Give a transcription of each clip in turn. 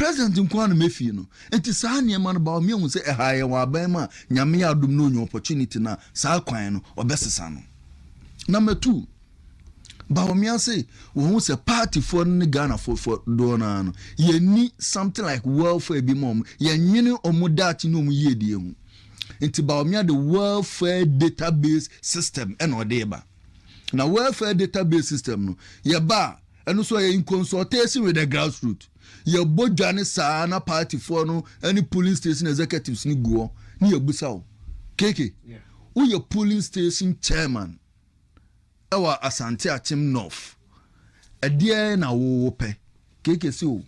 President nko ara na mefie no. Nti saa nneɛma no baɔ meahu sɛ ɛha yɛ wɔn aban mu a Nyame adom na onya opportunity no a saa kwan no ɔbɛsesa no. Number two, baɔ mease wɔhu sɛ party foɔ no ne Ghana foɔ foɔ doɔ no ara no yɛnni something like welfare bi ma wɔn, yɛnwene wɔn daakye ne wɔn yiedie ho. Nti baɔ mea de welfare database system ɛna ɔde ba. Na welfare database system no yɛba a Ɛno nso ɛyɛ in consultation with the grassroots. Yɛbɔ dwa ne saa na party foɔ no ɛne polling station executives no gu hɔ ne yɛbusa wo, KK, woyɛ polling station chairman ɛwɔ Asante Akyem North, ɛdeɛn na wo wopɛ? KK se o,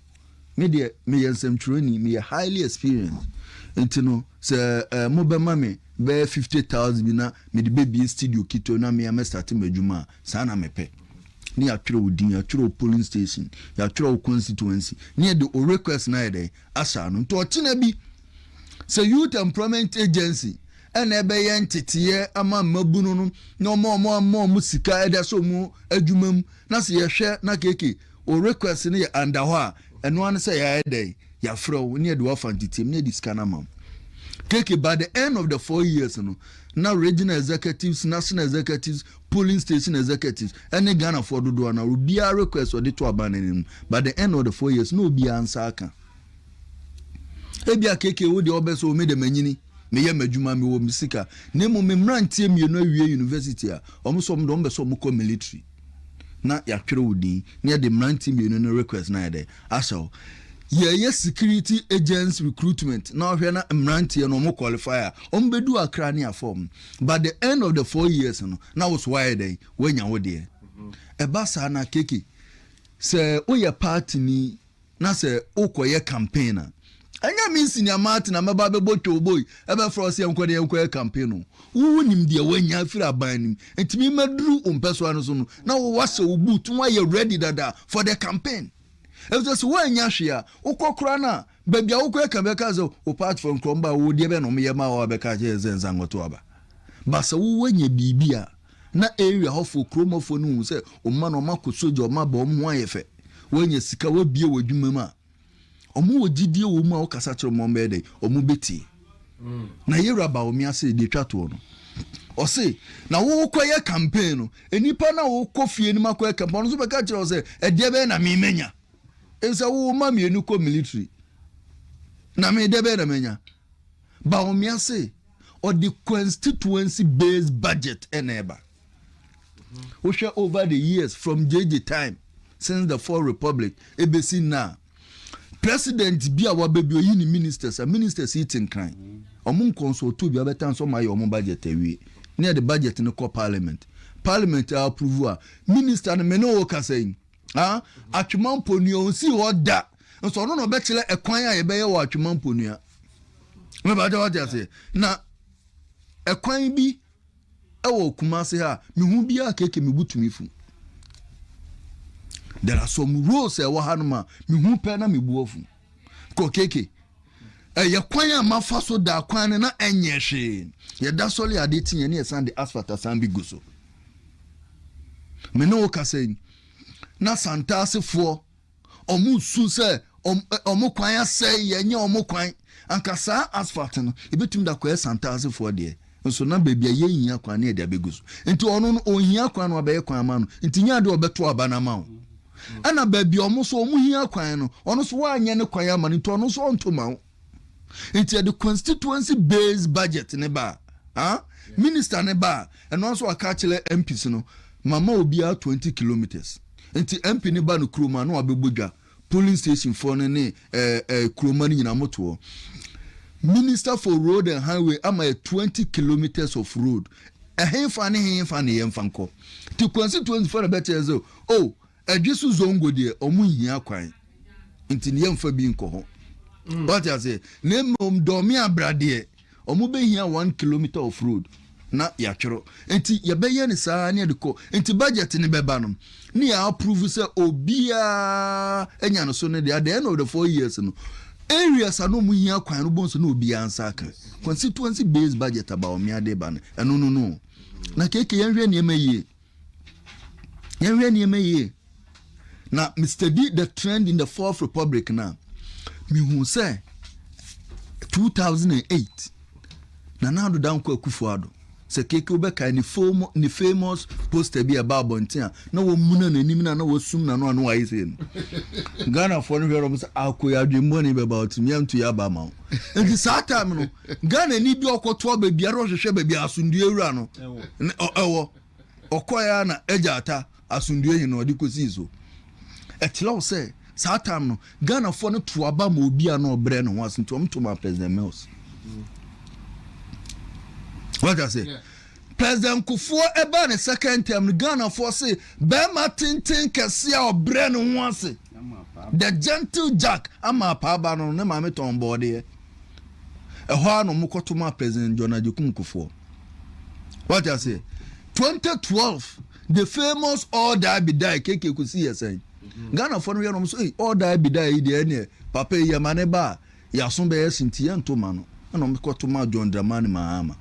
Me deɛ meyɛ nsɛmtwerɛni, meyɛ highly experienced nti no sɛ eh, mobɛma me bɛyɛ fifty thousand bi na mede bɛbie studio ketewa na mea mɛstate m'adwuma a, saa na mepɛ. Ne yɛatwerɛ wo din, yɛatwerɛ wo polling station, yɛatwerɛ wo constituency, ne yɛde wo request no ayɛ dɛn, ahyɛ ano. Nti ɔkyena bi, sɛ Youth Employment Agency ɛna ɛbɛyɛ nteteeɛ ama mmabunu no na ɔma wɔn ama wɔn sika ɛde ahyɛ wɔn adwuma mu na sɛ yɛhwɛ na keke Wo request no yɛ under hɔ a, ɛno ara ne sɛ yɛayɛ dɛn? Yɛafrɛ wo na yɛde wo afa nteteam na yɛde sika no ama wo. Keke, by the end of the four years no, na regional executives, national executives, polling station executives ne Ghanafoɔ dodoɔ no ara, obiara request a ɔde to aban no anim no, by the end of the four years, na obiara nsa aka. Ebia Keke wo deɛ wobɛ sɛ o me de manyini, meyɛ m'adwuma, mewɔ me sika, na mmom me mmeranteɛ mmienu awie university a, wɔn nso wɔn de wɔn bɛ sɛ wɔkɔ military. na yɛatwerɛ wo din na yɛde mmerante mmienu no request no ayɛ dɛ ahyɛ wo yɛyɛ security agents recruitment na ɔhwɛ na mmeranteɛ no ɔmo qualify a ɔmo bɛdu akra ne afɔm but the end of the four years no na wo so wayɛ dɛn wanya wo deɛ ɛba saa na keke sɛ woyɛ party ni na sɛ wokɔyɛ campaign a, ɛnyɛ me Senior Martin a mɛba bɛbɔ twobo yi, ɛbɛfrɛ wo sɛ yɛnkɔ na yɛnkɔyɛ campaign no. Wo wonim deɛ woanya afiri aban no mu, nti me maduru wo mpɛsoa no so no, na wo woahyɛ wo boot na woayɛ ready dada for the campaign. Ɛfisɛ sɛ woannya hwee a, wokɔ koraa no a, baabi a wokɔyɛ campaign bɛka sɛ wo partyfoɔ nkorɔmba a wɔwɔ deɛ bɛn na wɔyɛ maa wo a bɛka akyerɛ yɛn sɛ nsa nkɔto aba. But sɛ wo woanya biribi a, Na area hɔfoɔ, kurom hɔfoɔ no hu sɛ wɔn mma no wɔakɔ sogya, wɔn aba, wɔn ho ayɛ fɛ, wɔanya sika, wɔabue wɔn adwuma mu a, wɔwɔ gyidie wɔ mu a wokasa kyerɛ wɔn a wɔbɛyɛ dɛn? Wɔbɛtie. Na yɛn wura Bawumia se deɛ ɛtwa toɔ no, ɔse na wokɔyɛ campaign no, nnipa no a wokɔ fie no mu akɔyɛ campaign, ɔno nso bɛka kyerɛ wo sɛ ɛdeɛ bɛyɛ na me manya? Nsɛ wo mma mmienu kɔ military na me deɛ bɛyɛ na manya? Bawumia se Ɔde constituency based budget na ɛba. Wohwɛ over the years from JJ time since the fourth republic ebesi na president bi a wabɛbi oyi ne ministers a ministers yi te nkran ɔmo nkɔnsɔlto bi abɛtan sɛ ɔmo ayɛ ɔmo budget awie ne ɛde budget no kɔ parliament parliament a approve a minister no mene wo kasa yi Ah, Atwemampɔ nua, ɔnsii hɔ da. Nso ɔno na ɔbɛkyerɛ ɛkwan a yɛbɛyɛ wɔ Atwemampɔ nua. Mebɛgye wate aseɛ. Na ɛkwan bi ɛwɔ Kumase ha, mehu biara keke me butumi fu. There are some roads ɛwɔ ha no ma, mehu pɛ na mebu afu. kɔ keke. Ɛyɛ kwan a mafa so da kwan no na ɛnyɛ hwee. Yɛda sɔre a ade teɛ ne yɛsan de asphalt asan bi gu so. Me ne wo kasa yi, na Santaasefoɔ ɔmo su sɛ ɔmo kwan asɛe, yɛnyɛ ɔmo kwan. Anka saa asphalt no, ebetumi da kɔyɛ Santaasefoɔ deɛ. Nso na baabi a yɛnhia kwan ne yɛde abɛgu so. Nti ɔno no ɔnhia kwan no wabɛyɛ kwan ama no. Nti nyɛ adeɛ ɔbɛto aba no ama wo. Ɛna baabi a ɔmo so ɔmo hia kwan no ɔno so wanyɛ ne kwan ama no nti ɔno so ɔnto ma wo. Nti yɛde constituency based budget ne ba a minister ne ba a ɛno ara nso waka akyerɛ MPs no mama obiara 20 kilometres. Nti MP ne ba no kurom a na wabɛbɔ dwa Polling station foɔ no ne ɛɛ ɛɛ kuroma no nyinaa ɔmo to hɔ. Minister for road and highway ama yɛ twenty kilometres of road ɛhenfa ne henfa na yɛnfa nkɔ? Ti constituency foɔ na bɛkyerɛ yɛn sɛ oh Ɛdweso zongo deɛ ɔmo nhia kwan nti no yɛnfa bi nkɔ hɔ. Wate aseɛ? Na mmom Dɔme Abra deɛ. wɔbɛhia one kilometer of road na yɛatwerɛ nti yɛbɛyɛ no saa ne yɛde kɔ nti budget no bɛba no ne yɛ approve sɛ obiara anya no so no de at the end of the four years no areas a na wɔn hia kwan no bɔn so na obiara nsa aka constituency based budget about me ade ba no ɛno no no na keke yɛnhwɛ nneɛma yie. Yɛnhwɛ nneɛma yie. Na me study the trend in the fourth republic na mehu sɛ 2008 Nana Addo Dankwa Akufo Addo sɛ keke wobɛkae ne famo ne famous poster bi a ɛba abɔnten a na wɔmuna n'anim na na wɔsum n'ano ano ayɛ sɛ no Ghanafoɔ no hwɛ no sɛ akoyɛ adwemmɔne bɛba ɔtumi antu yɛ aba ma wo nti saa time no Ghanani bi a ɔkɔtoa baabiara a ɔhwehwɛ baabi a asomdwoe wura no wɔ. Ɔkɔe ara na Agya Atta asomdwoe he na ɔde kosii so. Ɛkyerɛ wo sɛ saa time no, Ghanafoɔ no to aba ma obi a na ɔbrɛ ne ho ase nti wɔto maa President Mills. Wate ase? President Kufuor ɛbaa ne second term no, Ghanafoɔ se bɛrima tenten kɛseɛ a ɔbrɛ ne ho ase. The Gentle Jack ama apaaba no, ne maame tɔn bɔɔdeɛ. Ɛhɔ ara na wɔkɔto maa President John Agyekum Kufuor. Wate aseɛ? 2012, the famous All Die Be Die, KK Kusi yɛ sɛn? Mm-hmm. Ghanafoɔ no yɛ nom so, All Die Be Die yi deɛ ɛneɛ, papa yi yɛma ne ba a, yɛaso bɛyɛ se nti yɛnto ma no. Ɛna wɔkɔto maa John Dramani Mahama.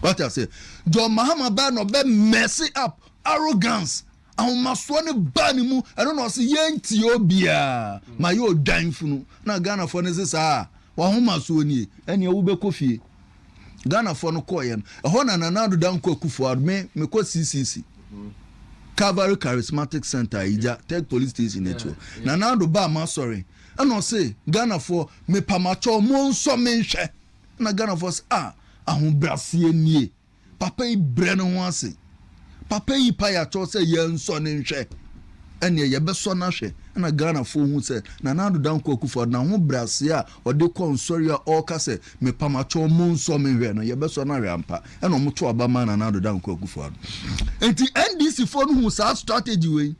Wate aseɛ? John Mahama bɛɛ na ɔbɛ mess up arrogance Ahomasoɔ no baa ne mu, ɛno na ɔse yɛntie obiaa, mayɛ odwan funu, na Ghanafoɔ no se saa a, w'ahomasoɔ nie, ɛneɛ wobɛkɔ fie. Ghanafoɔ no kɔeɛ no, ɛhɔ na Nana Addo Dankwa Akufo-Addo, me, mekɔ CCC, Calvary Charismatic Center, Ayigya, Tech Police Station akyi hɔ, Nana Addo baa m'asɔre, ɛna ɔse Ghanafoɔ, mepa makyɛw, monsɔ menhwɛ, ɛna Ghanafoɔ se ah, ahobraseɛ nie. Papa yi brɛ ne ho ase. Papa yi pae akyɛw sɛ yɛnsɔ no nhwɛ. Ɛnneɛ yɛbɛsɔ no ahwɛ na Ghanafoɔ hu sɛ Nana Addo Dankwa Akufo-Addo n'ahobrɛaseɛ a ɔde kɔ nsɔre a ɔreka sɛ mepa mo akyɛw monsɔ me nhwɛ no, yɛbɛsɔ no ahwɛ ampa. Ɛnna wɔto aba maa Nana Addo Dankwa Akufo-Addo. Enti NDCfoɔ no huu saa strategy wei.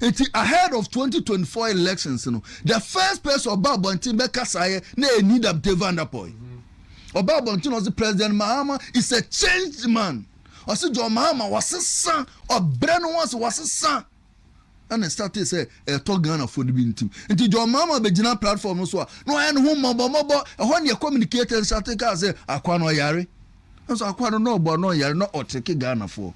Enti ahead of twenty twenty four elections no, the first person ɔba abɔnten bɛkasa yɛ na yɛ Nida Bte Van Der Poel. Ɔba abɔnten na ɔse President Mahama is a changed man. Ɔse John Mahama wasesa, ɔbrɛ ne ho ase, wasesa. Ɛna ɛstate sɛ ɛtɔ Ghanafoɔ no bi ntim. Nti John Mahama bɛgyina platform no so a, na ɔyɛ ne ho mmɔbɔmmɔbɔ. Ɛhɔ ne yɛ communicate and state kaa sɛ akwa no ɔyare. Nanso akoa no na ɔbɔ a na ɔyare na ɔtreke Ghanafoɔ.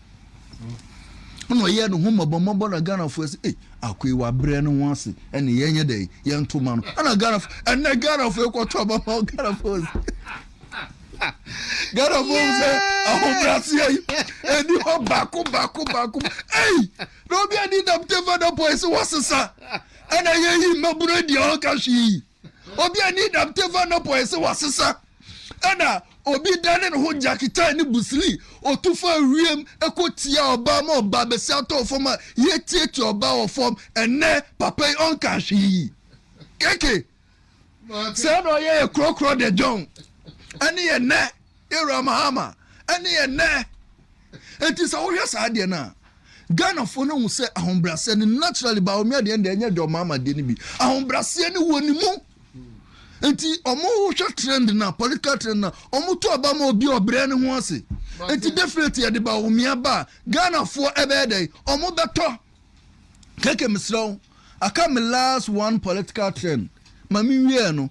Ɛna ɔyɛɛ ne ho mmɔbɔmmɔbɔ na Ghanafoɔ sɛ ei akoa yi wabrɛ ne ho ase ɛne yɛnyɛ dɛ yɛnto ma no. Ɛna Ghanafoɔ ɛnɛ Ghanafoɔ kɔtɔ ma ma Ghanafoɔ sɛ Ghanafoɔ sɛ ahobraseɛ yi ɛni hɔ baako baako baako ei na obi adi dam tefa da pɔ ɛsɛ wɔsesa ɛna yɛyi mmabunu adi a ɔka hwee yi. Obi a ne dam te fa nɔpɔ ɛsɛ wasesa ɛna obi dane ne ho gyaketaa ne busili otu fa wiem ɛkɔ tia ɔbaa ma ɔbaa bɛsi atɔ fam a yɛtiatia ɔbaa wɔ fam ɛnɛ papa yi ɔnka hwee keke sɛ na ɔyɛ yɛ korɔkorɔ de dwɔn ɛne yɛ nɛ Era Mahama ɛne ɛnnɛ. Enti sɛ wohwɛ saa adeɛ no a, Ghanafoɔ no hu sɛ ahobrɛaseɛ no naturally Bawumia deɛ ɛnde ɛnyɛ John Mahama deɛ no bi. Ahobrɛaseɛ no wɔ ne mu. Enti wɔn wohwɛ trend na political trend na wɔn to aba ma obi ɔbrɛ ne ho ase. Enti definitely yɛde Bawumia ba a Ghanafoɔ ɛbɛyɛ dɛ wɔn bɛtɔ. Keke mesrɛ wo, aka me last one political trend ma me wie no.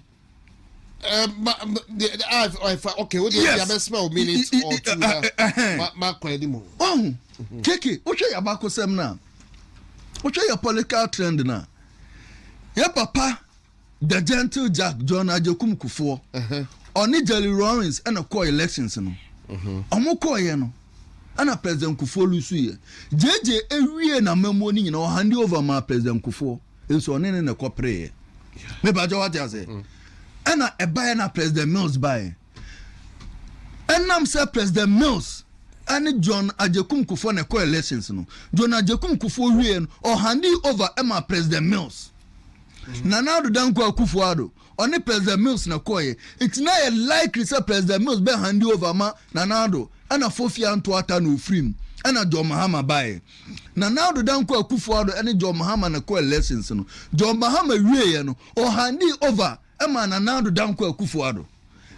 Eh, ma ma de de ah ɛfa okay o de ɛdi Yes. abɛsima o minute I- I- or two I- na I- I- ɛhɛn. ma ma kɔ ɛdi mu. ɔho keke wohwɛ yɛ abakosɛm no a wohwɛ yɛ political trend no a yɛ papa the gentle jack john agyekum kufoɔ Ɛhɛn. ɔne jerry lawrence ɛna kɔɔ elections no ɔmo kɔɔyɛ no ɛna president kufoɔ lusuiɛ gyegye ewie na mmamuo no nyina ɔhande over maa president kufoɔ nso ɔne ne na ɛkɔ pereeɛ mepakyɛ wate ase mm. ɛna ɛbaeɛ na president mills baeɛ ɛnam sɛ president mills ɛne john agyekum kufoɔ na ɛkɔ elections no john agyekum kufoɔ wie no ɔhande over ɛma president mills mm. nana adodankɔ akufoɔ ado Ɔne President Mills na ɛkɔeɛ, nti na ɛyɛ likely sɛ President Mills bɛ hande over ma Nana Addo, ɛna Fofi Anto Atta na ɔfiri mu, ɛna John Mahama baeɛ. Nana Addo dan kɔɔ Akuffo Addo ɛne John Mahama na ɛkɔɔ elections no. John Mahama wieeɛ no, ɔhandee over maa Nana Addo dan kɔɔ Akuffo Addo.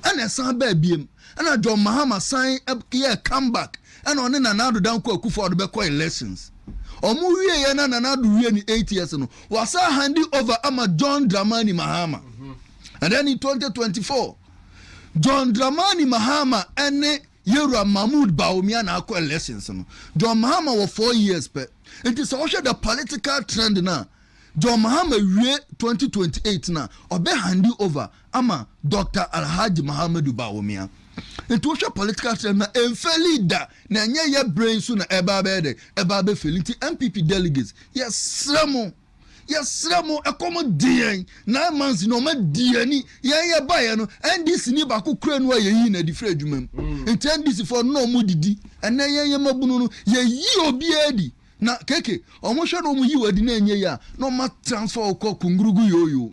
ɛna ɛsan baa biem ɛna John Mahama san yɛɛ come back ɛna ɔne Nana Addo Dankwa Akufo Addo bɛkɔ elections ɔmo wieɛ na Nana Addo wie ne eight years no wasan handi over ama John Dramani Mahama and then in 2024 John Dramani Mahama ɛne Yɛwura Mahmoud Bawumia na akɔ elections no, John Mahama wɔ four years pɛ. Nti sɛ wohwɛ the political trend no a, John Mahama wie twenty twenty eight no a, ɔbɛ handi over ama Doctor Alhaji Mahamadou Bawumia. Nti wohwɛ political trend no a, ɛnfeli da, na ɛnyɛ yɛ berɛ yi nso na ɛba abɛyɛ dɛn? Ɛba abɛfeli. Nti NPP delegates, yɛsrɛ mo. Yɛsrɛ mo, ɛkɔm de yɛn, nine months na wɔadi yɛn ani. Yɛn yɛbaeɛ no, NDC ni baako kura nu a yɛyii no adi firi adwuma mu. Mm. Nti NDC foɔ no na wɔdidi. Ɛnɛ yɛn yɛ mmabunu no, yɛyi obiara adi. Na keke, wɔhwɛ na wɔyi wo adi na ɛnyɛ yie a, na wɔatransfer wo kɔ Kungurugu Yoyo.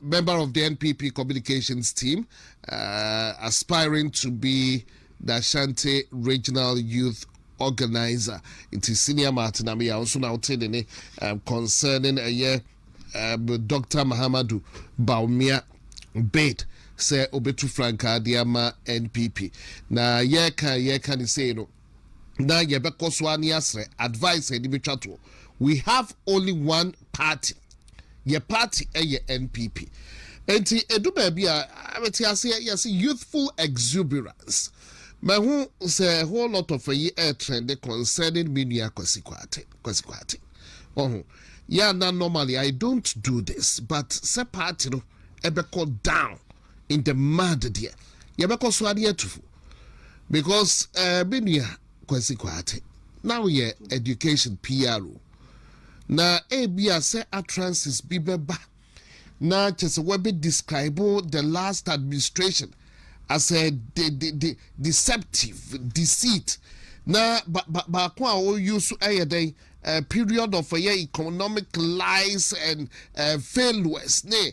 Member of the NPP Communications Team, uh, aspiring to be the Ashanti Regional Youth Organizer. Nti Senior Martin Amiya nso na wote ne ne um, concerning ɛyɛ um, Dr. Mahamadu Bawumia bid sɛ obetu frankaa de ama NPP. Na yɛka yɛka ne sei no, na yɛbɛkɔ so ara ne asrɛ advice a yɛde bɛtwa toɔ we have only one party yɛ party ɛyɛ npp nti ɛdu baabi a mete aseɛ yɛse youthful exuberance mahu sɛ whole lot of ayi ɛtrɛnde concerning me nua Kwasi Kwate Kwasi Kwate ɔho yɛ na normally I don't do this but sɛ party no ɛbɛkɔ down in the mud deɛ yɛbɛkɔ so ade atu fo because ɛɛ me nua Kwasi Kwaate na woyɛ education PRO na ebia sɛ utterances bi bɛba na kyɛ sɛ wɔbɛ describe the last administration as a de de de deceptive deceit na ba ba baako a wɔyɛ so ɛyɛ dɛn ɛɛ period of ɛyɛ economic lies and ɛɛ failures ne.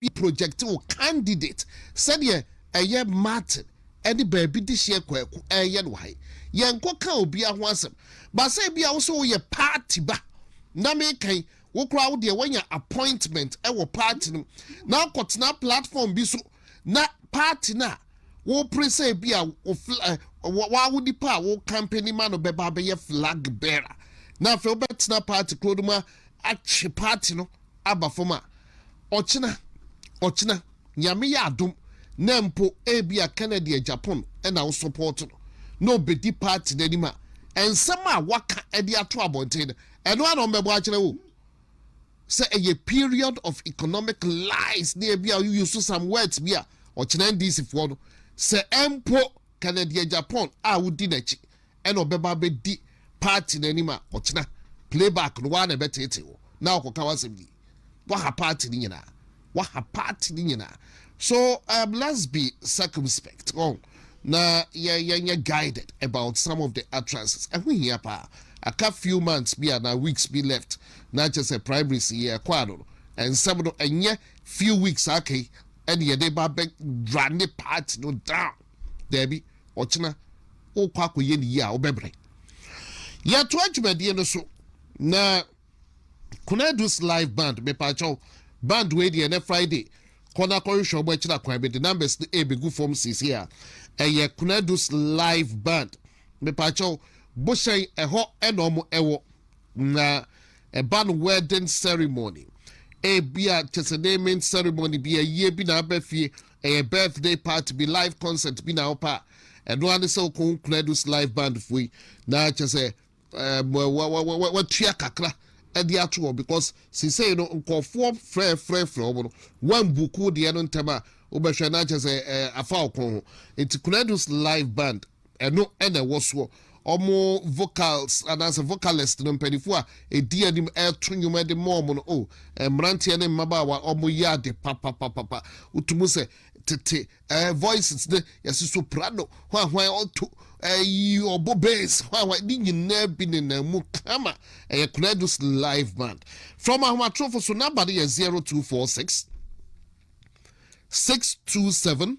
Wotumi project wo candidate sɛdeɛ ɛyɛ Martin ɛne baabi dehyeɛ Kwaku ɛyɛ no han. Yɛnkɔ ka obiara ho asɛm. But sɛ ebia wo sɛ woyɛ party ba na meka yi wo koraa wo deɛ wanya appointment ɛwɔ party no na wokɔ tena platform bi so na party no a wopere sɛ ebia wawo nipa a wo company ma no bɛba abɛyɛ flag bearer na afei wobɛtena party kuro no mu atwe party no aba fam a Ɔkyena, ɔkyena, Nyame yɛ adom na mpo ebia Kennedy a Japan na wo support no na ɔbɛdi party no anim a, nsɛm a waka de ato abɔnten no, ɛno ara na ɔmmɛbɔ akyerɛ wo. Sɛ ɛyɛ period of economic lies ne ebia you use some words bi a, ɔkyena NDC foɔ no, sɛ mpo Kennedy a Japan a wodi n'akyi ɛna ɔbɛba abɛdi party no anim a ɔkyena play back no waa na ɛbɛteetee wo na ɔkɔka w'asɛm di waha party no nyinaa waha party no nyinaa so um, let's be circumspect oh, na yɛnyɛ guided about some of the utterances ɛho hia paa aka few months bi anaa weeks bi left na kyɛ sɛ primaries yɛ ɛkɔ ano no nsɛm no ɛnyɛ few weeks aka yi ɛne yɛde ba bɛ rane party no down Dabi, ɔkyena worekɔ akɔyɛ ne yie a wobɛbrɛ. Yɛtoa dwumadie no so na Konadu's live band mepaakyɛw band wei deɛ ɛnɛ Friday kɔ na kɔhwehwɛ ɔmo akyiri akwan bi de numbers no ɛbɛgu fam sisi a ɛyɛ Konadu's live band mepaakyɛw bohyɛn ɛhɔ ɛna ɔmo ɛwɔ na ɛba no wedding ceremony ebia kyesɛ naming ceremony bi ayie bi na abɛfie Ɛyɛ birthday party bi live concert bi na wopɛ a, ɛno ara ne sɛ wokɔ wo Kunadus live band foɔ yi na kyɛ sɛ ɛɛ watua kakra ɛde ato wɔn because sisei no nkɔfoɔ frɛfrɛfrɛ wɔn no wɔmbuku deɛ no ntɛm a wobɛhwɛ na kyɛ sɛ ɛɛ afa ɔkɔn ho nti Kunadus live band Ɛno na ɛwɔ soɔ. Wɔn vocals anaasɛ vocalist no, mpaninfoɔ a ɛdi anim ɛreto nnwom de ma wɔn no, oh, mmeranteɛ ne mmabaawa, wɔyɛ ade papapapapa. Wotu mu sɛ tete ɛɛ voices no, yɛsi soprano, hwan hwan ɔto, ɛyi ɔbɔ bass, hwan hwan, ne nyinaa bi nenam mu kama. Ɛyɛ Konadu's live band. Frɛ wɔn ahomatorofo so, number no yɛ 0246 627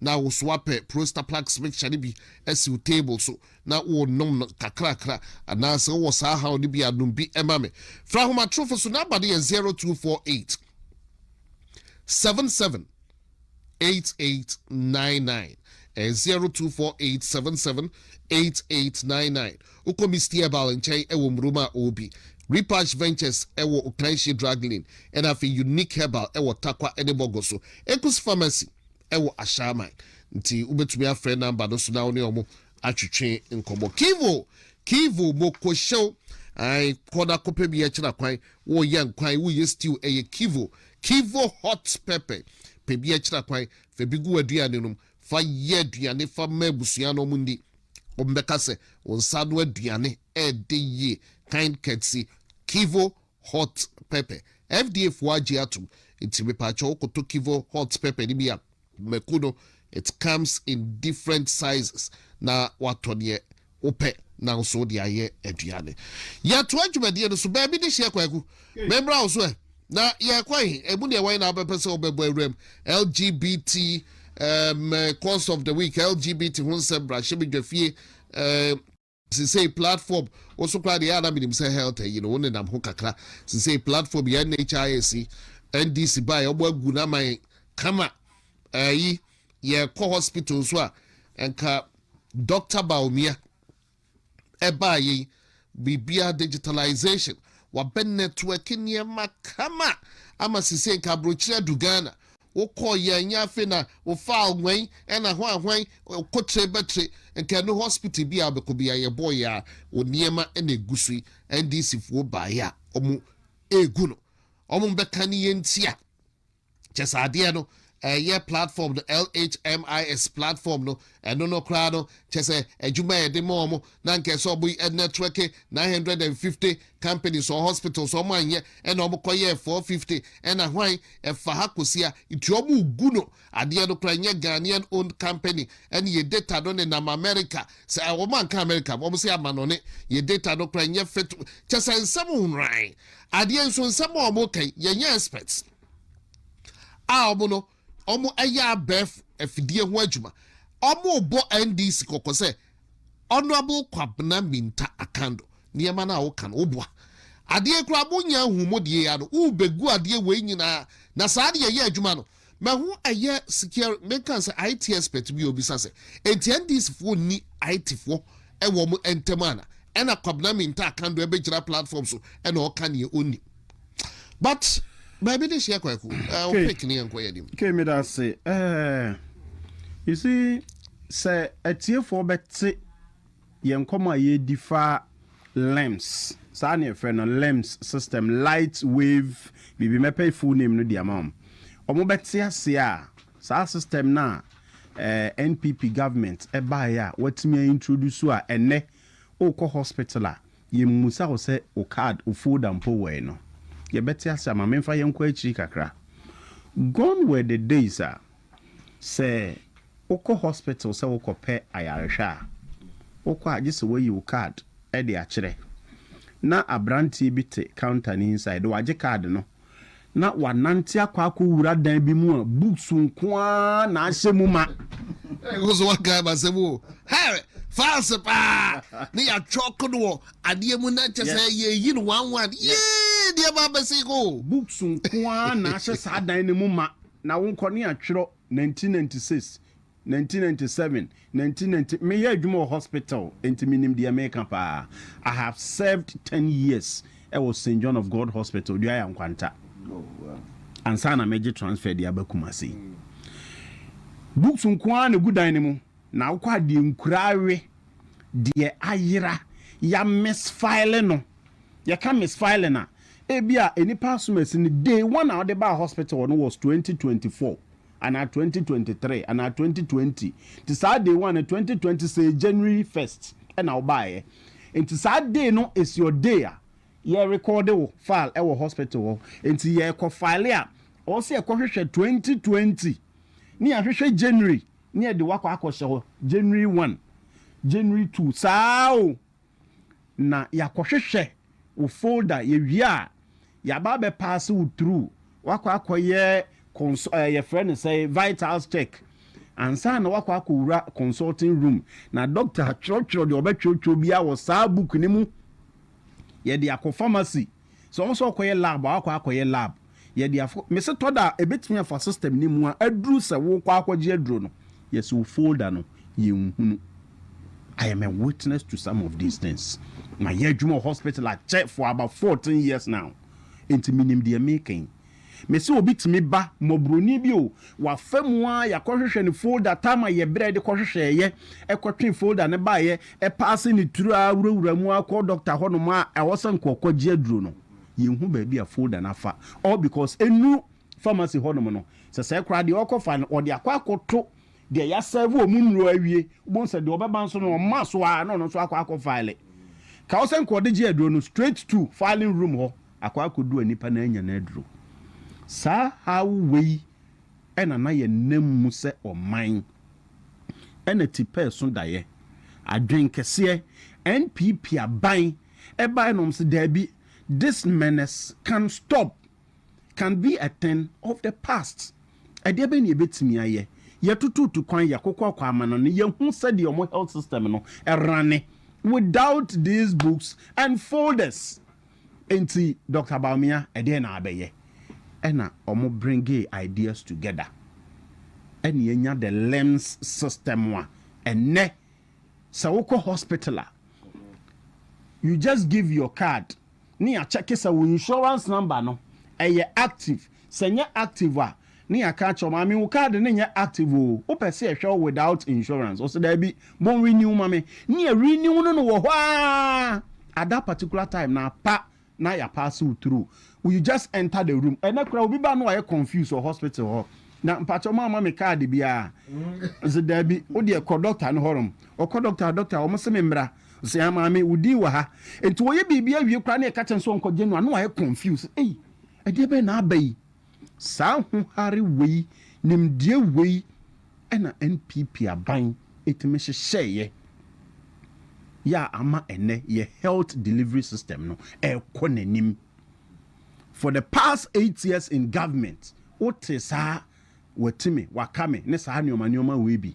Na wosoapɛ Prostaplax mixture no bi siw table so na wonom no kakrakra. Anaasɛ wowɔ saa haw no bi a, nom bi ma me. Frɛ ahomatorofo so. Number no yɛ zero two four eight seven seven eight eight nine nine. Ɛyɛ zero two four eight seven seven eight eight nine nine. Wokɔ Misty Herbal nkyɛn wɔ Murom a, ɔwɔ bi. Repash Ventures wɔ Okanhye Drug Lane, ɛna afei Unique Herbal wɔ Tarkwa ne Bɔgɔ so. Ekus Pharmacy wɔ Ashaiman, nti wobɛtumi afrɛ namba no so na wo ne wɔn atwetwe nkɔmmɔ. Kivo, Kivo, Mokohyew, ae, kɔ na kɔpɛ bi akyira kwan, woyɛ nkwan, woyɛ stew, ɛyɛ Kivo, Kivo hot pepper, pɛ bi akyira kwan, fa bi gu w'aduane nom, fa yɛ aduane fa ma abusua na wɔn nni, wɔn bɛka sɛ wo nsa ano aduane ɛɛde yie, kind courtesy Kivo hot pepper. FDA foɔ agye atom nti mepaakyɛw wo kɔtɔ Kivo hot pepper no bi a mako no it comes in different sizes na watɔ neɛ wopɛ na nso wode ayɛ aduane. Yɛtoa dwumadie no so, baabi de hyeɛ Kwaku memmra wo so ɛ na yɛkɔ he? Ɛmu neɛ wan na wobɛpɛ sɛ wobɛbɔ awuram? LGBT um, course of the week LGBT ho nsɛm bra hyɛ me dwa fie um, Sesei platform wo so koraa deɛ ɛyɛ a na menim sɛ health ayi no wo nenam ho kakra sesei platform yi NHIS NDC baeɛ ɔmo agu no ama yɛn kama ɛyi yɛkɔ hospital nso a nka Doctor Bawumia ɛbaa yɛn biribiara digitalization wabɛ network nneɛma kama ama sesei nka abrokyire adu Ghana Wokɔɔ yɛ nyɛ afei na wofaa ɔnwan ɛna hwan hwan ɔkɔkyire bɛkyire nka ɛno hospital bi a wobɛkɔ bi a yɛbɔɔ yɛ a wo nneɛma na ɛgu so yi NDC foɔ baeɛ a wɔn ɛregu no wɔn mbɛka ne yɛ nti a kyɛsɛ adeɛ no ɛyɛ platform no LHMIS platform no Ɛno no koraa no, kyerɛ sɛ adwuma a yɛde ma wɔn no anka ɛsɛ sɛ wɔn networke nine hundred and fifty companies or hospitals, wɔn anyɛ ɛna wɔn kɔ yɛɛ four fifty ɛna hwan ɛfa ha kɔsi ha, nti wɔn regu no adeɛ no koraa ɛnyɛ Ghanaian owned company ɛna yɛn data no nenam America, sɛ wɔn anka America wɔn se amanɔne, yɛn data no koraa ɛnyɛ fit, kyerɛ sɛ nsɛm nhoran, adeɛ nso nsɛm a wɔn reka yi yɛnyɛ experts a wɔn no. Wɔyɛ abɛɛfo afidie ho adwuma. Wɔrebɔ NDC kɔkɔ sɛ Honourable Kwabena Minta Akando nneɛma no a woka no woboa. Adeɛ koraa monya nhumu deɛ ya no wobɛgu adeɛ wei nyinaa na saa deɛ yɛ adwuma no ma ho ɛyɛ secure menka sɛ IT expert bi obisa sɛ enti NDC foɔ nni IT foɔ ɛwɔ mo ntam ana ɛna Kwabena Minta Akando ɛbɛgyina platform so ɛna ɔka neɛ ɔnni but baabi de hyia kwaku uh, okay. pick ne yɛnkɔ yɛ anim okay meda ase uh, you see sɛ atiefoɔ bɛte yɛn nkɔmɔ a yɛdi fa lems saa ne yɛfrɛ no lems system light wave biribi mɛpɛ full name no di ama wɔn wɔn bɛte ase a saa system no a eh, npp government ɛbaeɛ a wɔatumi a introduce a ɛnɛ wokɔ hospital a Yemmisa wo sɛ wo kaad, wo folda mpo wɔ he? no, yɛbɛte ase ama. Memfa yɛnkɔ akyiri kakra. Gone were the days a sɛ wokɔ hospital sɛ wokɔpɛ ayarehwɛ a, wokɔ a gye sɛ woayi wo kaad de akyerɛ. Ná abranteɛ bi te counter no inside, wagye kaad no, na wanante akɔ akɔwura dan bi mu a books nko ara na ahyɛ mu ma. ɛkɔ so wakae masɛm o hɛ fanse paa ne yɛatwerɛ kodoɔ adeɛ mu na kyɛ sɛ yɛyi no one one yee deɛ ba bɛse ko books nko ara na ahyɛ saa dan no mu ma na wonkɔ ne atwerɛ Nineteen ninety six, nineteen ninety seven, nineteen ninety Me yɛ adwuma wɔ hospital nti me nim deɛ meka paa. I have served ten years wɔ Saint John of God Hospital, Duaya Nkwanta ansa na mɛgye transfer de aba Kumasi. Books nko ara na ɛgu dan no mu na wokɔ a deɛ nkura awe, deɛ ayera, ya misfile no. Yɛka misfiring a, ebia nnipa asomasi no day one a ɔde baa hospital no was twenty twenty four anaa twenty twenty three anaa twenty twenty nti saa day one no twenty twenty say January first na wobaeɛ nti saa day no is your day a yɛ record wo file ɛwɔ hospital hɔ nti yɛkɔ file a ɔwɔ sɛ yɛkɔ hwehwɛ twenty twenty ne yɛahwehwɛ January ne yɛde wakɔ akɔhyɛ hɔ January one January two saa o na yɛakɔhwehwɛ wo folder, yɛwie a yɛaba abɛ paase wo through, woakɔ akɔyɛ cons ɛɛ yɛfrɛ no sɛ vitals check ansa na woakɔ akɔwura consulting room na doctor atwerɛtwerɛ deɛ ɔbɛtwerɛtwerɛ biara wɔ saa book no mu, yɛde akɔ pharmacy. Sɛ ɔmo sɛ ɔkɔyɛ lab a wakɔ akɔyɛ lab yɛde afo mese tɔ da a ebetumi afa system no mu a aduru sɛ wokɔ akɔgye aduro no yɛse wo folder no yɛnhunu I am a witness to some of these things mayɛ adwuma wɔ hospital akyɛ for about 14 years now nti menim deɛ meka yi Mese obi tumi ba, mmɔborɔni bi o, wafa mu ara yɛakɔhwehwɛ no folder taa ma yɛ berɛ a yɛde kɔhwehwɛeɛ, ɛkɔtwee folder no baeɛ, ɛpaase ne turo ara wurawura mu ara kɔ dɔkta hɔnom a ɛwɔ sɛ anka ɔkɔgye aduro no, yɛnhu baabi a folder no afa all because ɛnnuru pharmacy hɔnom no. Sɛsɛɛ koraa deɛ ɔrekɔfa no ɔde akɔ akɔto deɛ yɛasɛɛve wɔn nnuro awie, wobɛhu sɛ deɛ ɔbɛba nso no ɔma so ara na ɔno nso akɔ akɔfile. Ka wo sɛ anka ɔde gye aduro no straight to filing room hɔ. akɔ akɔdu a nnipa no anya no aduro. Saa haw wei na na yɛnam mu sɛ ɔman. Ɛna tipɛɛ so daeɛ, adwene kɛseɛ, NPP aban ɛbaeɛ na wɔn se daabi, this menace can stop, can be a thing of the past. Ɛdeɛ bɛn na yɛbɛtumi ayɛ? Yɛtututu kwan, yɛkokɔɔkɔ amanɔne, yɛhu sɛdeɛ wɔn health system no rane without these books and folders. Enti Doctor Bawumia ɛdeɛn na abɛyɛ? Ɛna ɔmo bringee ideas together ɛna yɛanya the LIMS system a ɛnnɛ sɛ wokɔ hospital a you just give your card ne yɛakyɛke sɛ wo insurance number no ɛyɛ active, sɛ ɛnyɛ active a Ne yɛaka akyerɛ wɔn, Maame wo card no nyɛ active o, wopɛ sɛ yɛhwɛ wo without insurance? Ɔse daabi, bɔ renew ma me. Ne yɛ renew no no wɔ hɔ aa, at that particular time no apa na yɛ pass wo through. You just enter the room. Ɛnɛ koraa obi ba no wayɛ confused wɔ hospital hɔ, na mpakyɛw moamma me card biara? Ɔse daabi, wo deɛ kɔ doctor no hɔ nom. Ɔkɔ doctor hɔ, doctor wɔn se me mmra. Ɔse aa maame wo din wɔ ha. Enti wɔyɛ biribi awie koraa na yɛka kyerɛ no sɛ ɔnkɔgye no a na wayɛ confused, ei ɛdeɛ bɛn na aba yi? Saa ho hare wei, nimdeɛ wei na NPP aban tumi hyehyɛeɛ yɛ a ama ɛnnɛ yɛ health delivery system no ɛrekɔ n'anim. For the past eight years in government, wotee saa watime, wakame ne saa nnoɔma nnoɔma wei bi.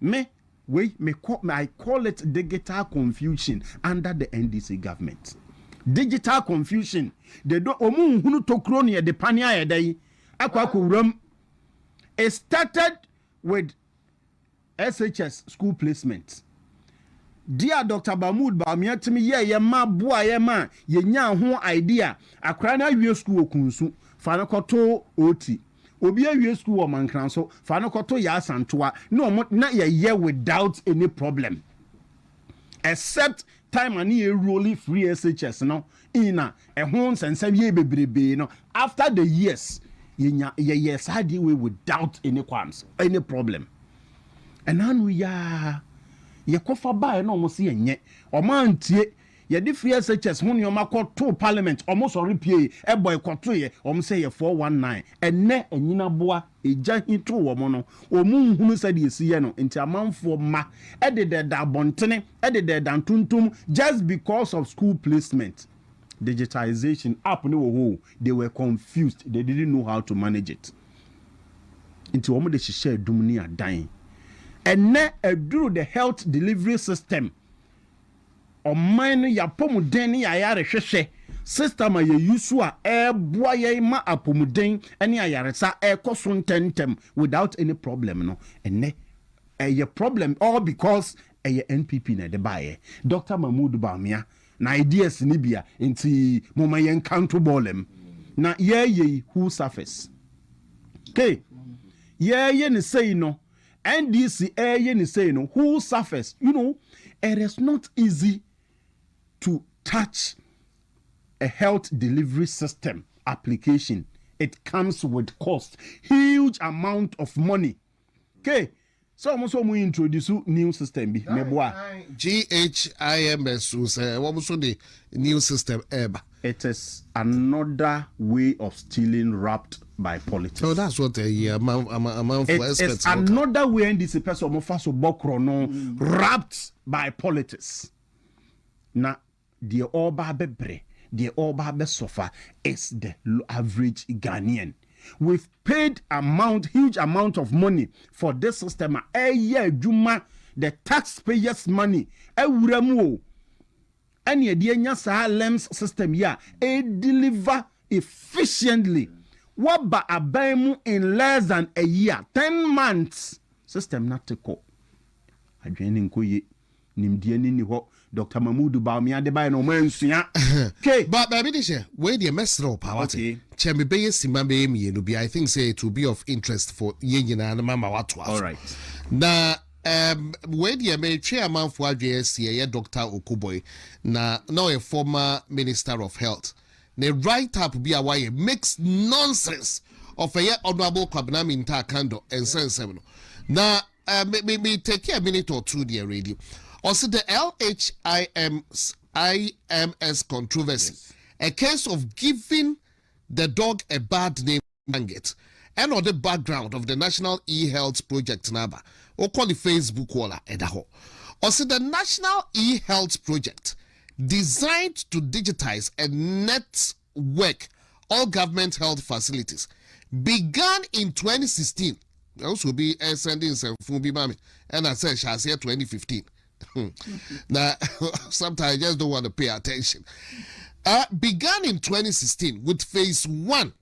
Me, wei me call, I call it digital confusion under the NDC government. Digital confusion. They don't, omu nhunu tokuro ne yɛde pane ayɛ dɛ yi akɔ akɔ wuram. It started with SHS school placement. Dear Dr. Mahmood Bawumia timi yɛ yɛ ma boa yɛ ma yɛnya ho idea akora no awie school wɔ kunsu fa no kɔto oti. Obi awie sukuu wɔ Mankransõ, fa no kɔto Yaa Asantewaa ne wɔn na yɛyɛ without any problem except time a ne yɛ enroli firi SHS no in a ɛho nsɛnsɛm yɛɛ bebrebee no after the years yɛnya yɛyɛɛ saa adeɛ wei without any qualms any problem ɛna ano yi ara yɛkɔfa baeɛ na wɔn se yɛnyɛ wɔn antie Yɛde firi SHS ho nnoɔma kɔ too parliament ɔmo sɔre piee ɛbɔ ɛkɔtoeɛ ɔmo sɛ yɛ 419 ɛnɛ ɛnyini aboa egya hi too wɔn no ɔmo nhunu sɛdeɛ esi yɛ no nti amanfoɔ mma ɛdedɛɛda abɔntene ɛdedɛɛda ntontom just because of school placement digitization app no wɔ hɔ o they were confused they didn't know how to manage it nti ɔmo de hyehyɛ adum ne adan ɛnɛ ɛduru the health delivery system Ɔman no yɛ apɔmuden ne yɛ ayarehwehwɛ system a yɛ use so a ɛboa yɛn ma apɔmuden ne ayaresa ɛkɔ so ntɛntɛm without any problem no ɛnɛ ɛyɛ problem all because ɛyɛ NPP na ɛde baeɛ Doctor Mahmood Bawumia na ideas no bi a nti moma yɛn nka nto bɔɔlɛm na yɛɛyɛ yi who suffers? Ke yɛɛyɛ no sei no NDC ɛɛyɛ ne sei no who suffers you know it is not easy to touch a health delivery system application it comes with cost huge amount of money ke sɛ wɔn nso wɔn introduce new system bi meboa. GHIMS nso wɔn nso de new system ɛɛba. It is another way of stealing wrapped by politics. It is another way NDC pɛ sɛ wɔn fa so bɔ korɔno wrapped by politics. Na deɛ ɔreba abɛbrɛ, deɛ ɔreba abɛsɔfa is the average Ghanaian. We've paid amount, huge amount of money for this system a ɛreyɛ adwuma, the taxpayers money awura mu o. ɛne ɛde anya saa LEMS system yi a ɛyɛ deliver efficiently waba aban mu in less than a year, ten months system no ate kɔ. Adwene no nkɔ yie. Nimdeɛ no nni hɔ. Doctor Mahmood Bawumia de baeɛ no wɔn ansua. Ke. Ba baabi de hyɛ, wei deɛ mɛsrɛ wo paa wate, Okay. kyɛ me bɛyɛ simma bɛyɛ mmienu bi, I think sɛ it will be of interest for yɛn nyinaa na mama woatoa so. Alright. Na. Erm wei deɛ meretwe amanfoɔ adwene asi ɛyɛ Doctor Okuboi na na ɔyɛ former minister of health ne write up bi a wayɛ makes nonsense of ɛyɛ Honourable Kwabena Mintah Kandor nsɛnsɛm no na eh, me me me take a minute or two deɛ ready ɔsi the LHIM's IMS controversy Yes. a case of giving the dog a bad name. Manget ɛna ɔde background of the National E-Health Project no aba. Wokɔ ne Facebook wall a, ɛda hɔ. Ɔse the National E-Health Project designed to digitize and network all government health facilities began in twenty sixteen. Ɛho sɛ obi ɛsɛnde nsɛmfo bi ma me ɛna sɛ ɛhyɛ aseɛ twenty fifteen. Na sometimes I just don't want to pay attention. Uh, began in twenty sixteen with phase one.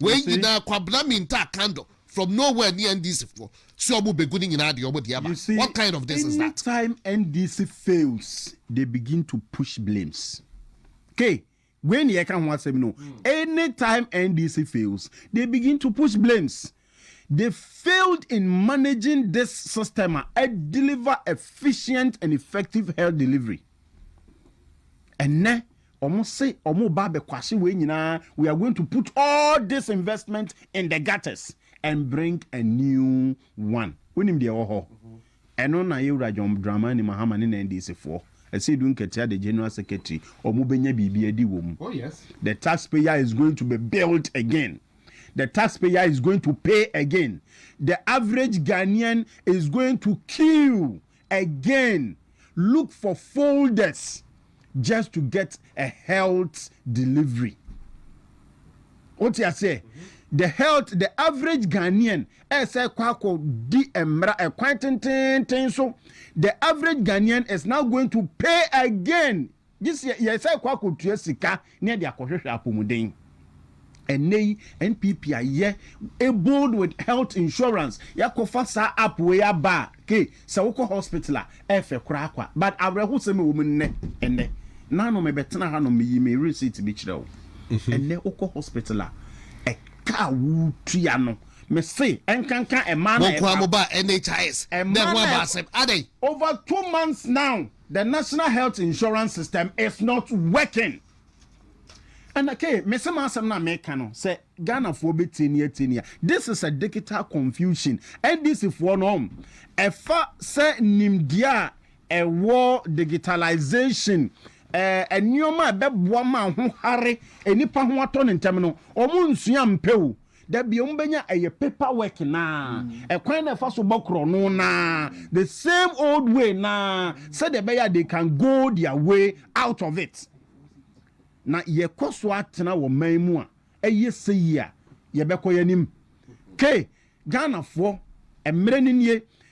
Wei nyinaa Kwabena Mintah candle from nowhere ne NDC foɔ sɛ ɔmo begu ne nyinaa deɛ ɔmo de aba what kind of this is that. You see anytime NDC fails they begin to push blames kay wei ne yɛka ho asɛm no anytime NDC fails they begin to push blames they failed in managing this system a ɛdeliver efficient and effective health delivery ɛnɛ Ɔmo se ɔmo ba abɛkwahye wei nyinaa, we are going to put all this investment in the gutters and bring a new one. Wonim deɛ ɛwɔ hɔ? Ɛno na Yewura John Dramani Mahama ne ne NDC foɔ, Asiidu Nketia the General Secretary, ɔmo bɛnya biribi adi wɔ mu. The tax payer is going to be built again. The tax payer is going to pay again. The average Ghanaian is going to queue Again look for folders just to get a health delivery wote aseɛ the health the average Ghanaian ɛsɛ kɔ akɔ di mmara ɛkwan tententen so the average Ghanaian is now going to pay again gye sɛ yɛsan kɔ akɔtua sika na yɛde akɔhwehwɛ apɔmuden. Ɛnnɛ yi NPP ayɛ bold with health insurance, yɛakɔfa saa app wei aba a, kei, sɛ wokɔ hospital a, ɛfɛ koraa kwa. But awerɛhosɛm a ɛwɔ mu nnɛ, ɛnnɛ, na ano mebɛtena ha nom meyi me receipt bi kyerɛ wo. Ɛnnɛ wokɔ hospital a, ɛka a wotua no, mese ɛnkanka ɛmaa na ɛba. Mo nkoaa mo baa NHIS, dɛn ho abaa sɛm, adɛn? Over two months now. The national health insurance system is not working. And okay, me se m'asɛm na meka no sɛ Ghanafoɔ bɛtie ni atie ni a this is a digital confusion NDCfoɔ no ɛfa sɛ nimdeɛ a ɛwɔ digitalization ɛɛ nneɛma a ɛbɛboa ma ho hare nnipa ho atɔ ne ntɛm no wɔn nsua mpɛ o da bi ɔmo bɛnya ɛyɛ paper work naa ɛkwan na ɛfa so bɔ korɔno naa the same old way naa sɛdeɛ ɛbɛyɛ they can go their way out of it na yɛkɔ so atena wɔ man mu a ɛyɛ sɛ yi a yɛbɛkɔ yɛn anim ke ghanafoɔ mmerɛ no nie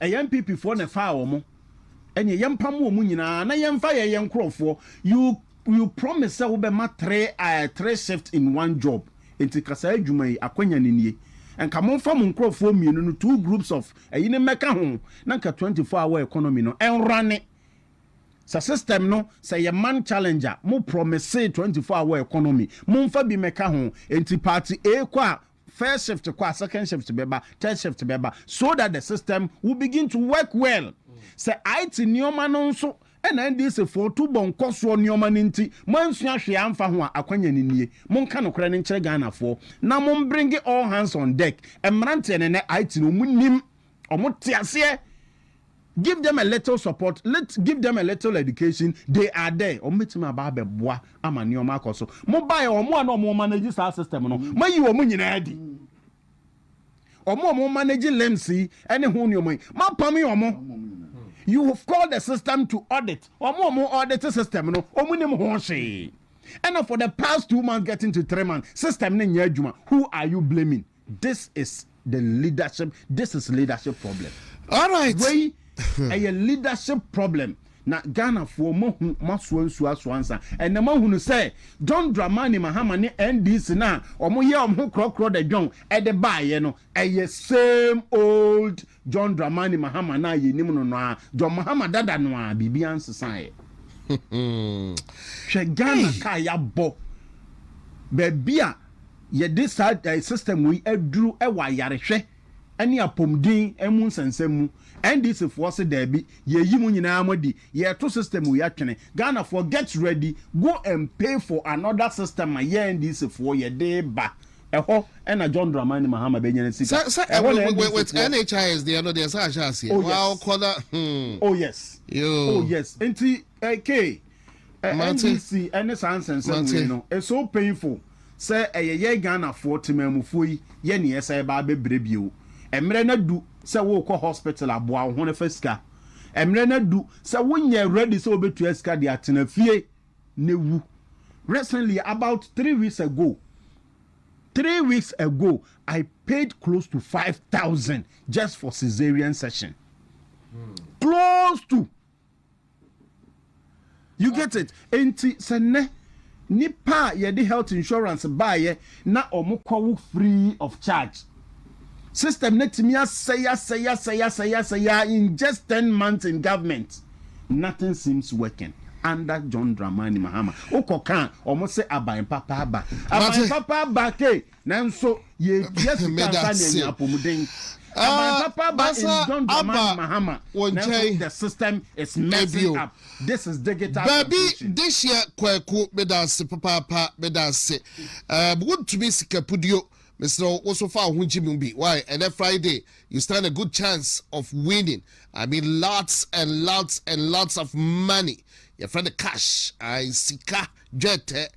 Ɛyɛ NPP foɔ na ɛfaa wɔn, ɛneɛ yɛmpamo wɔn nyinaa na yɛmfa yɛ yɛn nkorɔfoɔ, you you promise sɛ wobɛma three eh three shift in one job, nti ka saa adwuma yi, akwanya no nie, nka momfa mo nkorɔfoɔ mmienu no two groups of ɛyi no mmɛka ho na nka twenty four hour economy no ɛnrane, sɛ system no sɛ yɛ man challenge a, mo promisee twenty four hour economy, momfa bi mmɛka ho, nti party A kɔ a, First shift kɔ a, second shift bɛba, third shift bɛba so that the system will begin to work well. Sɛ IT nneɛma no nso na NDC foɔ tu bɔ nkɔsoɔ nneɛma no nti moansua hwee amfa ho a, akwanya no nie. Monka nokorɛ no nkyerɛ Ghanafoɔ na mombringe all hands on deck. Mmeranteɛ no nnɛ IT no wɔnnim Ɔmo te aseɛ. Give them a little support, let give them a little education, they are there. Ɔmo bɛtumi aba abɛboa ama nneɛma akɔ so. Mo baeɛ ɔmo a na ɔmo manage saa system no, mo ayi ɔmo nyinaa adi. Ɔmo a ɔmo manage limbs yi ɛne ho nneɛma yi, mo apame ɔmo. You have called the system to audit. Ɔmo ɔmo audit system no, ɔmo nim ho hwee. And for the past two months getting to three months, system no nyɛ adwuma. Who are you blaming? This is the leadership this is leadership problem alright wei ɛyɛ leadership problem na Ghana foɔ mo ahu mo asoa nsuo asoa nsa ɛnna mo ahunu sɛ John Dramani Mahama ne NDC na wɔn yɛ wɔn ho korɔkorɔ da John ɛde baayɛ no ɛyɛ same old John Dramani Mahama no a yɛnim no no ara, John Mahama dada no ara, biribiara nsesaeɛ. Hwɛ Ghana kaa yɛabɔ, baabi a yɛde saa eh, system yi aduru wɔ ayarehwɛ ne apɔmuden mu nsɛnsɛm mu. NDC foɔ se daabi, yɛyi mo nyinaa mo adi, Yɛto system wei atwene. Ghanafoɔ get ready, go and pay for another system ma yɛn NDC foɔ yɛde ba. Ɛhɔ na John Dramani Mahama bɛnya ne sika. Sɛ, Ɛhɔ na NDC with foɔ. NHIS deɛ no deɛ sɛ ahyɛ aseɛ. Oh yes. Waakɔ na hmm. Oh yes. Yoo. Oh yes. Nti eh, K, eh, Mate. NDC ɛne saa nsɛnsɛm Mate. wei no, it's so painful sɛ ɛyɛ yɛn Ghanafoɔ temanmufoɔ yi yɛ nea ɛsɛ ɛba abɛbrɛ bio. Mmerɛ no adu sɛ worekɔ hospital aboa wo ho no fa sika. Mmerɛ no adu sɛ wo nyɛ ready sɛ wobɛtua sika de atena fie ne wu. Recently about three weeks ago three weeks ago I paid close to five thousand just for caesarean section. Hmm. Close to. You get it? Enti sɛ nnɛ nnipa a yɛde health insurance baeɛ na wɔn kɔ wo free of charge, system no atumi asɛe asɛe asɛe asɛe asɛe ara in just ten months in government, nothing seems working under John Dramani Mahama. Wokɔ ka a, wɔn se aban papa aba, aban papa aba kei. Nanso yɛretua sika mfa na anya apɔmuden. Aban papa aba in John Dramani Mahama, nanso the system is messing up. This is digital translation. Baabi Dehyeɛ Kwaku medase papaapa medase um wontumi sikapudio mesrɛ wo woso fa wo ho gye mu bi why ɛnɛ Friday you stand a good chance of winning I mean lots and lots and lots of money yɛfrɛ no cash I sika Dwetɛ,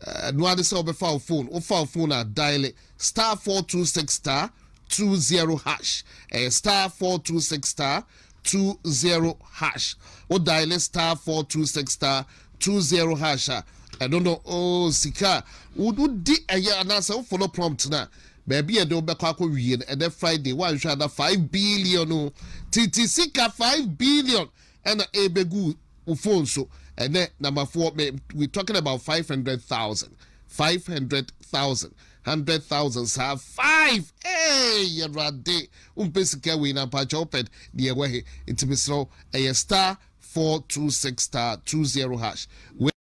Ɛno ara ne sɛ wobɛfa wo fon, wofa wo fon a daele star four two six star two zero hash, ɛyɛ star four two six star two zero hash. Wo daele star four two six star two zero hash a, ɛno no oo sika a wodi ɛyɛ anaasɛ wo follow prompt no a, baabi a ɛde wobɛkɔ akɔ wie no ɛnɛ Friday, woanhwɛ ana five billion o, titi sika five billion ɛna ɛbɛgu wo phone so ɛnɛ namafoɔ me we talking about five hundred thousand five hundred thousand hundred thousand saa five ee yɛwurade wompɛ sika wei na mpakyɛ wopɛ deɛ ɛwɔ he nti mesrɛ wo ɛyɛ star four two six star two zero hash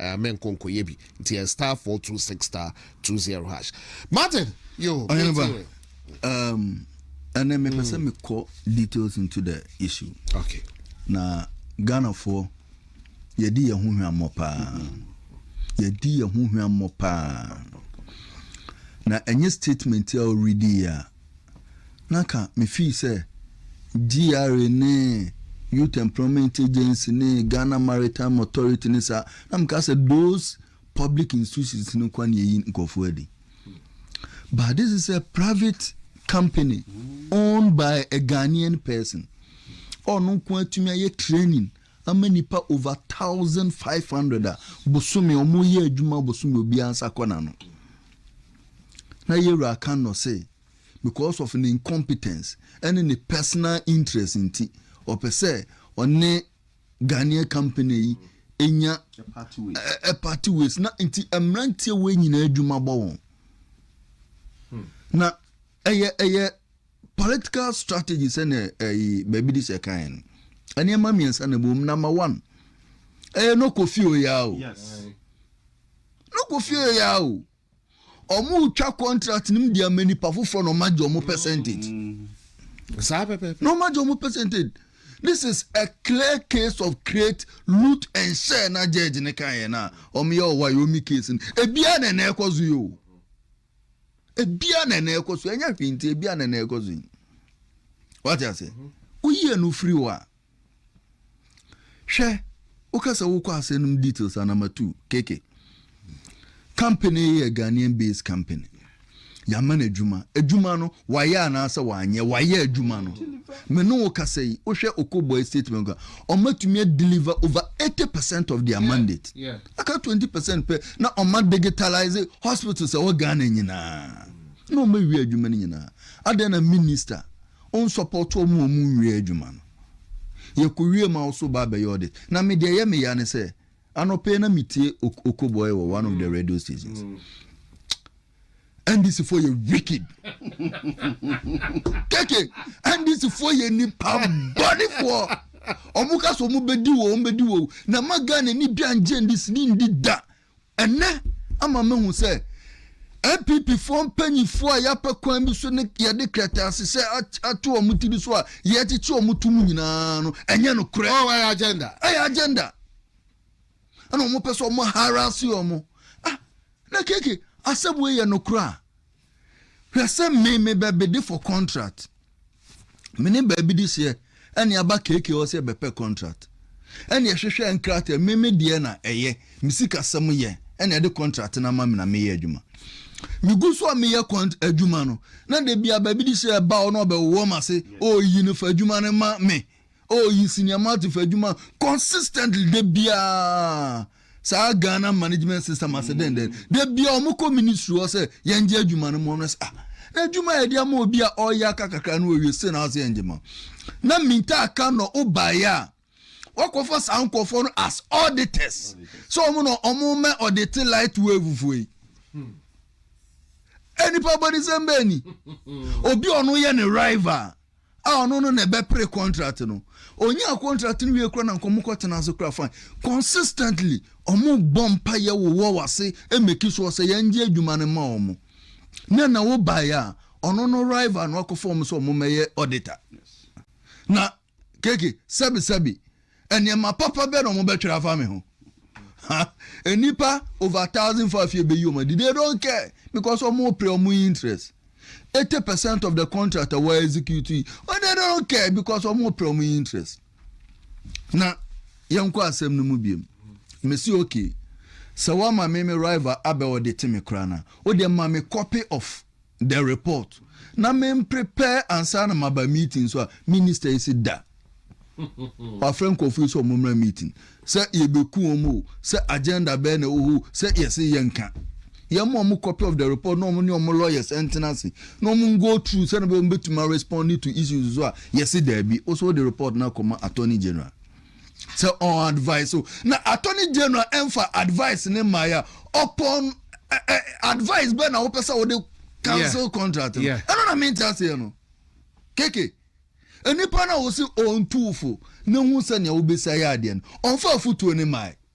Ɛɛ menkɔ nkɔyɛ bi nti ɛyɛ star four two six star two zero hash martin yo ɔyɛn ba um, ɛnɛ mepɛ sɛ mm. mekɔ details into the issue okay na ghanafoɔ yɛdi yɛn ho hwammɔ paa mm-hmm. yɛdi yɛn ho hwammɔ paa na ɛnyɛ statement a ɔredi yɛ a na ka mefii sɛ GRA ne Youth Employment Agency ne Ghana Maritime Authority ne saa, na meka sɛ those public institutions no kwa na ɛyi nkurɔfoɔ adi. But this is a private company owned by a Ghanaian person. Ɔno nko atumi ayɛ training ama nnipa over thousand five hundred a bosome wɔn yɛ adwuma bosome obiara nsa kɔ n'ano na yɛwura aka nnɔ se because of ne incompetence ɛne ne personal interest nti ɔpɛ sɛ ɔne Ghanaian company yi enya ɛ party ways na nti mmeranteɛ wɔ nyinaa adwuma bɔ wɔn hmm. na ɛyɛ ɛyɛ. Political strategy sɛnea ɛyi eh, baabi di sɛ kan no. Nneɛma mmiɛnsa na ɛbom. Number one, ɛyɛ eh, no kɔ fie oyaa o. Yes. No kɔ fie oyaa o. Ɔmo twa contract nim di ama nipa foforɔ na ɔmo agye ɔmo percentage. Mm. Saa pɛpɛpɛ. Na ɔmo agye ɔmo percentage. This is a clear case of create loot and share na judge ne kan yɛ na ɔmo yɛ ɔwa yɛ ɔmo case no. Ebia na ɛna ɛkɔ so yɛ o. ebia na na ɛkɔ so ɛnyɛ hwee nti ebia na na ɛkɔ so yi wate ase mhm. woyi ɛno firi hɔ a hwɛ woka sɛ wokɔ asɛ nom details anamatu keke company yɛ ghanaian based company yɛama no adwuma adwuma no Wayɛ anaasɛ wanyɛ wayɛ adwuma no. Me ne wo kasa yi, wohwɛ Okoboy statement ka, ɔma tumi deliver over 80 percent of their mandate. Aka 20 percent pɛ na ɔma digitalise hospitals ɛwɔ Ghana nyinaa. Na ɔma wie adwuma no nyinaa. Adɛn na minister ɔnsupporto wɔn a wɔn wie adwuma no. Yɛkɔ wie ma wo so ba abɛyɛ audit. Na me deɛ ɛyɛ me ya ne sɛ, anɔpa yi na metie Okoboy wɔ one of the radio stations. ndc foɔ yɛ wicked keke ndc foɔ yɛ nipa bɔne foɔ ɔmo ka so ɔmo bɛdi wo ɔmo bɛdi wo na ma ghana ni bi angye ndc ni ndi da ɛnɛ ama ma hu sɛ npp foɔ mpanyinfoɔ a yɛapɛ kwan bi so ne yɛde kɛtɛ ase sɛ ato ɔmo ti bi so a yɛkyekye ɔmo to mu nyinaa no ɛnyɛ no korɛ ɔyɛ agenda ɛyɛ agenda ɛna wɔn pɛ sɛ wɔn haraase wɔn ah na keke asɛm wei yɛ no koraa hwɛ sɛ me me baabi de for contract me ne baabi de seɛ ɛne aba keke wɔ sɛ bɛpɛ contract ɛne ɛhwehwɛ nkrataa me me deɛ na ɛyɛ me sika sɛm yɛ ɛne ɛde contract na ama me na meyɛ adwuma megu so a meyɛ kɔnt adwuma no na de bia baabi de sɛ ɛba ɔno ɔbɛwɔ ma se ɔyi oh, no fa adwuma no ma me oh yi cinematography adwuma consistently da biara saa ghana management system ase dɛn dɛn da biara wɔn kɔ ministry hɔ sɛ yɛn gye adwuma no mu wɔn sɛ ah na adwuma yɛ de ama obi a ɔyɛ aka kakra no wɔwie se na ase yɛn gye ma na minta aka na ɔbaeɛ a wɔkɔfa saa nkɔfoɔ no as auditors sɛ wɔn na wɔn mɛ audit light wave foɔ yi. Hmm. Eh, nipa bɔnisɛm bɛɛ ni obi ɔno yɛ ne rival a ɔno no na ɛbɛpere contract no onyaa contract no wie kora na nkɔmɔ kɔ tena ase kora fine consistently ɔmo bɔ mpa yɛ wo wɔ wase emeki so ɔsɛ yɛn gye adwuma no ma ɔmo na na wo ba yɛ a ɔno no rival no akɔfa ɔmo sɛ ɔmo mɛyɛ auditor na keke sɛbi sɛbi Nneɛma papa bɛn na wɔbɛtwerɛ afa me ho? Ha, nnipa over thousand faa fie bɛyi wɔn adi. They don't care because wɔpere wɔn interest. Eighty percent of the contract a wɔ execute yi, oh, they don't care because wɔpere wɔn interest. Na yɛnkɔ asɛm no mu biom. Mesi okay. Sɛ wɔama me me rival abɛ ɔde te me koraa na, wode ma me copy of the report na me prepare ansa na maba meeting so a minister yi se da wafrɛ nkurɔfo yi sɛ ɔmo mmra meeting sɛ yɛbɛku wɔn o sɛ agenda bɛɛ na ɛwɔ hɔ sɛ yɛse yɛnka yɛn ma ɔmo copy of the report na ɔmo ne ɔmo lawyers ɛntena ase na ɔmo go through sɛ na ɔmo bɛtumi respond to issues so a yɛse daabi o so de report na kɔma attorney general. sɛ ɔn advice o na attorney general ɛnfa advice ne mmaa yɛ ɔpɔn ɛ ɛ advice bɛɛ na wopɛ sɛ wode cancel contract no ɛno na mente aseɛ no keke nnipa no a wɔsi ɔntuufo na hu sɛnea wobɛsi ayɛ adeɛ no ɔmfa afotuo ne mmaa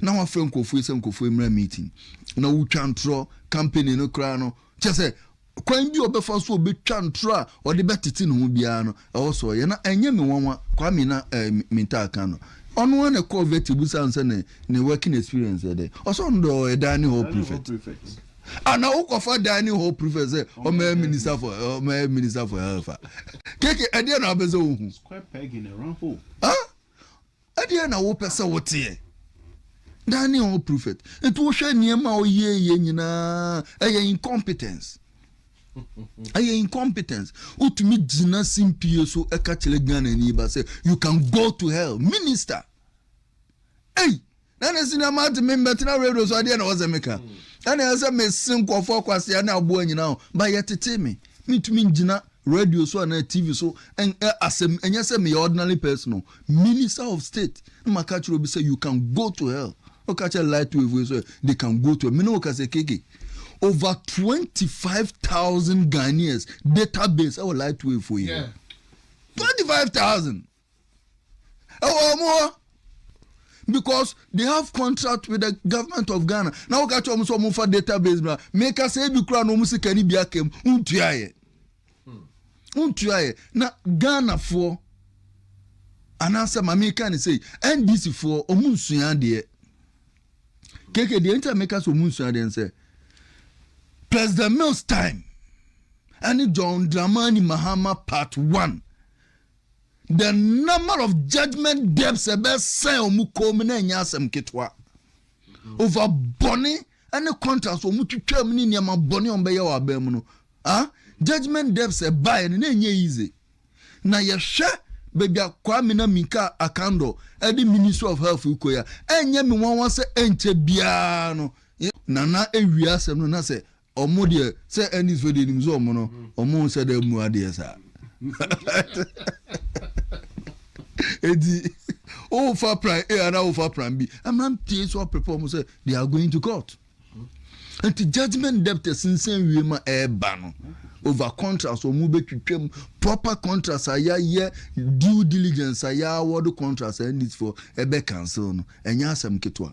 na wafrɛ nkurɔfoɔ sɛ nkurɔfoɔ mmra meeting na wotwa ntorɔ company no koraa no kyɛ sɛ kwan bi a ɔbɛfa so ɔbɛtwa ntorɔ a ɔde bɛtete ne ho biara no ɛwɔ so ɔyɛ na ɛnyɛ me nwanwa Kwame na eh, mentaa ka no ɔno a na ɛkɔɔ vet busa no sɛ ne ne working experience ɛdɛ ɔsɛ ɔno dɛ ɔyɛ dining hall prefect ana wokɔfa dining hall prefect sɛ ɔmayɛ minister for ɔmayɛ minister for health a keke ɛdeɛ na wobɛ sɛ wohu Ɛdeɛn na wopɛ sɛ woteɛ? Daniel ɔ prophet nti wohwɛ nneɛma a ɔyɛɛyɛ nyinaa ɛyɛ incompetence ɛyɛ incompetence wotumi gyina simpie so ɛka kyerɛ Ghana ni ba sɛ you can go to hell minister ei na ne sini ama ate me mbɛtena radio so adeɛ na ɔsɛ meka ɛna ɛsɛ mese nkɔfoɔ akwasea ne aboa nyinaa ba yɛtete me mentumi ngyina Radio so anaa TV so ɛn ɛ asɛm ɛnyɛ sɛ meyɛ ordinary person o minister of state na ma ka kyerɛ obi sɛ you can go to hell o ka kyerɛ light wave yi so ɛ they can go to hell mene o ka sɛ keke over twenty five thousand Ghanaians database ɛwɔ light wave fo yi hɔ twenty five thousand. ɛwɔ wɔn hɔ because they have contract with the government of ghana na wɔka kyerɛ wɔn sɛ wɔn fa database bra meka sɛ ebi kura na wɔn sika ni bi aka mu ntua yɛ ntua yɛ na ghana foɔ anaasɛ maame ka ne sɛ ndc foɔ wɔn nsua adeɛ keke deɛ nti a meka sɛ wɔn nsua adeɛ nsɛ president mills time ɛne john dramani mahama part one The number of judgment debts ɛbɛsɛn wɔn kɔn mu na ɛnyɛ asɛm ketewa. Mm-hmm. Over bɔne ne contracts wɔn twitwa mu ne nneɛma bɔne wɔn bɛyɛ wɔ abɛn mu no. Ah, judgment debts ɛbaeɛ no na ɛnyɛ easy. Na yɛhwɛ baabi a Kwame na Minka Akando ɛde Ministry of Health kɔ ya. Ɛnyɛ me nwanwa sɛ ɛnkyɛ biara no. Nana ewia asɛm no na sɛ Ɔmo deɛ sɛ Ernest fɛ deɛ nim sɛ ɔmo no ɔmo nhyɛ da mu adeɛ saa eti wofa plan A ana wofa plan B amantie so apɛpɛ ɔmo sɛ they are going to court nti judgement debt sinsan wie ma ɛɛba no over contracts ɔmo bɛtwitwam proper contracts a yɛayɛ due diligence a yɛawɔde contracts a Ernest fo ɛbɛ cancel no ɛnyɛ asɛm ketewa.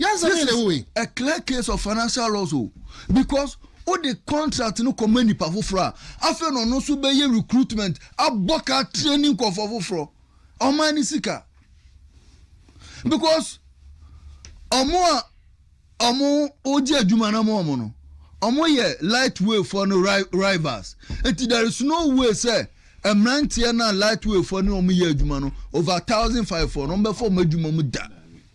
Nyansa bɛn na ɛwɔ wei? This is a clear case of financial loss o because wo de contract no kɔma nipa foforɔ a afei na ɔno nso bɛyɛ recruitment abɔ ka training nkɔfoɔ foforɔ ɔman ne sika because ɔmo a ɔmo wogye adwuma na ɔmo ɔmo no ɔmo yɛ lightweight foɔ no rivals nti there is no way sɛ mmeranteɛ no a lightweight foɔ ne ɔmo yɛ adwuma no over thousand five foɔ no ɔmo bɛfɔ ɔmo adwuma mu da.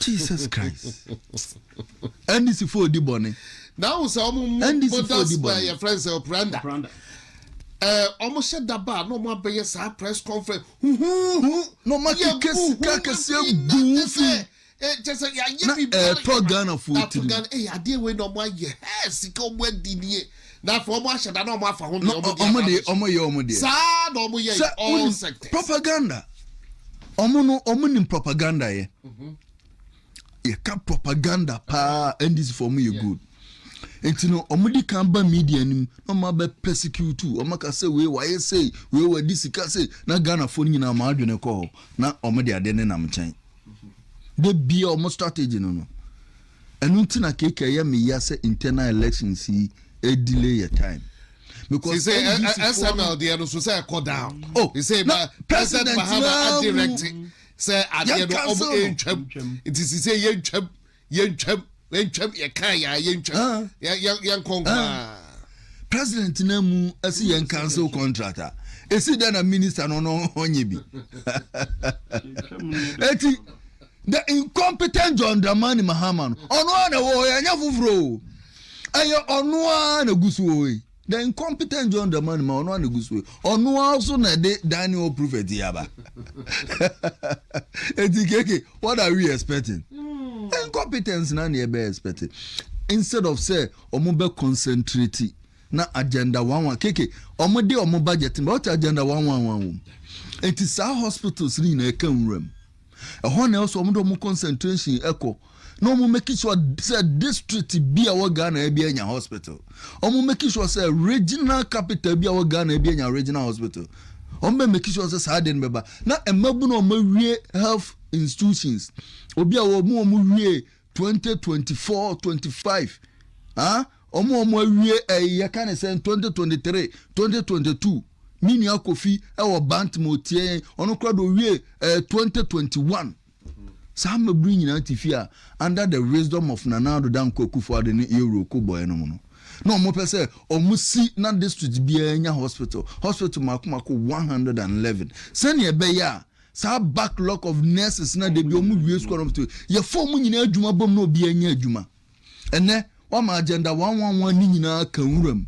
jesus christ ndc fo di bɔne na ahu sɛ ɔmo mu bodas bɛ yɛ frɛ sɛ ɔpranda ɛɛ ɔmo hyɛ daba a na ɔmo abɛyɛ saa press conference huhuhu na ɔmo akeka sika kɛseɛ gu fi kyɛ sɛ yɛayɛ biribiara ɛtɔ ghana fo tiri ɛyɛ adeɛ wei na ɔmo ayɛ ɛɛ sika ɔmo adi nie Na afei wɔn ahyɛ da na wɔn afa ho deɛ wɔn de aba abɛhyɛ. Wɔn yɛ wɔn deɛ. Saa na wɔn yɛ all sectors. Propaganda. Wɔn no wɔn nim propaganda yɛ. Mhm. Yɛ ka propaganda paa NDC fo wɔn yɛ good. Nti no wɔn di kan ba media nim na wɔn abɛ persecute wɔn aka sɛ wei wayɛ sei wei wadi sika sei na Ghana fo nyinaa wɔn adwene kɔ hɔ na wɔn de ade ne nam nkyɛn. Mhm. De bia wɔn strategy no no. Ɛno nti na keke ɛyɛ me ya sɛ internal elections yi delay yɛ time. Because say SML deɛ no so sɛ ɛkɔ down. Oh, he say na President Mahama a direct sɛ adeɛ no ɔmo ɛntwam. Nti si sɛ yɛntwam yɛntwam yɛntwam yɛka yɛ a yɛntwam yɛnkɔ nkomaa. President na mu ɛsi yɛn cancel contract a ɛsi dɛ na minister no no ɔnyɛ bi. Ɛti. The incompetent John Dramani Mahama no, ɔno ara na ɛwɔ hɔ, ɛnyɛ foforɔ o. Ɛyɛ ɔno ara na ɛgu so wɔ hɔ yi. The incompetent John Dramani Mahama, ɔno ara na ɛgu so wɔ hɔ. Ɔno ara nso na ɛde Daniel prophet yi aba. Eti keke, what are we expecting? Hmm. Incompetence na na yɛbɛ expecting. Instead of sɛ wɔn bɛ concentrate na agenda one one keke wɔn de wɔn budget na wɔte agenda one one one wɔm. Eti saa hospitals ni nyinaa ɛka nwura mu. ɛhɔ na ɛwɔ sɛ wɔn de wɔn concentration ɛkɔ na wɔn make sure sɛ district bi a wɔ ghana bi anya hospital wɔn make sure sɛ regional capital bi a wɔ ghana bi anya regional hospital wɔn bɛ make sure sɛ saa de no bɛba na mmabunu a wɔn awie health institutions obi a wɔn wɔn wie. twenty twenty four twenty five ah ɔmo ɔmo awie ɛyi yɛ ka ne sɛn twenty twenty three twenty twenty two ne nua kofi ɛwɔ bantam otie yɛn ɔno kora do wie ɛɛ twenty twenty one saa mmabiri nyinaa ti fi a under the wisdom of nana ado danko akufo ado ne euro ko bɔɛ nom no na ɔmo pɛ sɛ ɔmo si na district biara nya hospital hospital mako mako one hundred and eleven sɛnea ɛbɛyɛ a Saa backlog of nurses na dabi wɔn wie sukuu anam to yɛ fɔm mu nyinaa adwuma bom na obi anya adwuma. Ɛnɛ wama agenda wɔn wɔn wɔn ne nyinaa ka nwura mu.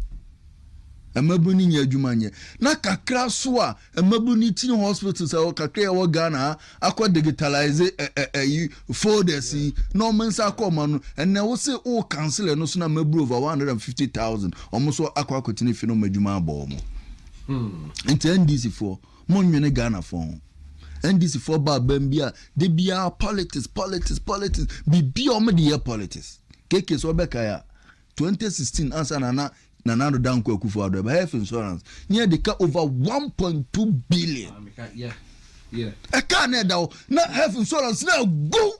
Mmabun ni nyɛ adwuma nyɛ. Na kakra so a mmabun ni teaching hospitals a kakra yɛ wɔ Ghana ha akɔ digitalize ɛ ɛ ɛyi folders yi na wɔn nsa akɔ wɔn ano. Ɛnɛ wose o council ɛno so na mmabun over one hundred and fifty thousand wɔn so akɔ akɔtena fi na wɔn adwuma abɔ wɔn. Hmm. Nti NDC foɔ. Monnwene Ghanafoɔ ho. NDC foɔ ba abam bi a, da biara politics, politics, politics, biribi a wɔde yɛ politics. KK sɛ wobɛkae a, 2016 ansa na na Nana Addo Dankwa Akufo Addo ɛba health insurance, ne yɛde ka over 1.2 billion. Ɛkaa na ɛda hɔ, na health insurance no agu.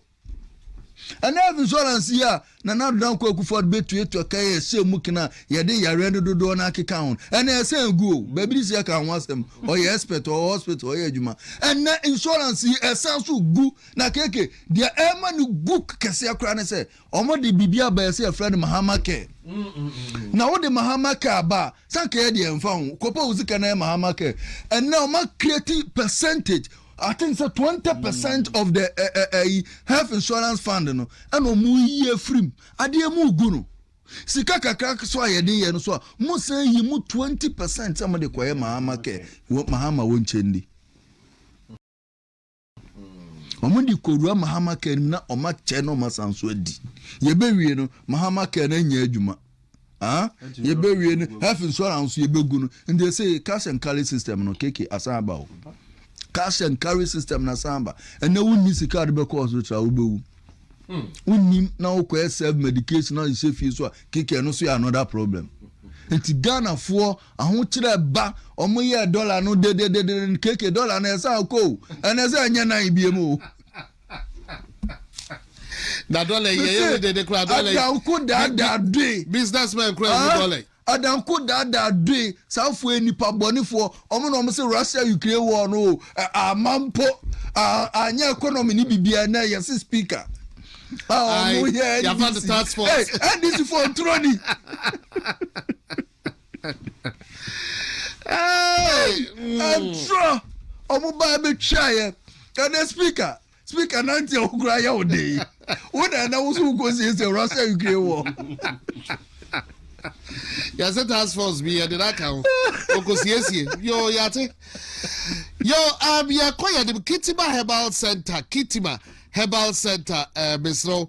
Ɛnna health insurance yi a Nana Adodan Kwaku Ford bɛtuatua ka yɛ ɛsɛ mu kena a yɛde yareɛ no dodoɔ no akeka ho no. Ɛnna ɛsɛ egu o, baabi de sika ka ho asɛm. Ɔyɛ expert, ɔwɔ hospital, ɔyɛ adwuma. Ɛnna insurance yi ɛsan nso gu. Na KK, deɛ ɛma no gu kɛseɛ koraa ne sɛ, wɔde biribi aba yɛ sɛ yɛfrɛ no Mahama Care. Na wode Mahama Care aba a, sɛ anka yɛ deɛ ɛmfa ho, kɔpɛ wo sika na yɛ Mahama Care. Ɛnna wɔn a create percentage, I think sɛ twenty percent of the ɛɛ eh, ɛyi eh, eh, health insurance fund no ɛna ɔmo yi efiri mu adeɛ mu gu no sika kakra so a yɛde yɛ no so a mo san yi mu twenty percent sɛ mo de kɔyɛ mahama kɛ mahama wɔn nkyɛn di wɔn de kɔwura mahama kɛ no mu na wɔn akyɛ na wɔn asan so adi yɛbɛwie no mahama kɛ no anya adwuma. ah yɛbɛwie no health insurance nso yɛbɛgu no nti ɛsɛ cash and carry system no keke asan aba o cash and carry system na asan aba ɛnɛ wonni sika de bɛkɔ hospital a wobɛwu hmm. wonim na wokɔɛ serve medication na ɛhyɛ fie so a keke ɛno so yɛ another problem nti ghanafoɔ ahokyerɛ ba ɔmo yɛ dɔla no dededede keke dɔla no ɛsan kɔ o ɛnɛ sɛ ɛnyɛ nan biem o na dɔla yi ɛyɛ wo dede koraa dɔla yi adanko daadaa doe business man koraa ehu ah, dɔla yi adanko daadaa doe sanfo yɛ nipa bɔnefoɔ wɔn na wɔn sɛ russia ukraine war no o ama mpo anyɛ economy ne bibia na yɛ se speaker a wɔn yɛ ndc ndc fo nturoni. ɛntorɔ ɔmo ba bɛtwa yɛ ɛnɛ speaker speaker nanti a wokura ayɛ wo de yi wo na ɛnɛ wo so wokɔ siesie russia ukraine wɔ yɛsɛ task force bi yɛde no aka ho ɔkɔsiesie yo yɛate yo um, yɛkɔ yɛde kitima herbal center kitima herbal center uh, eh, mesrɛ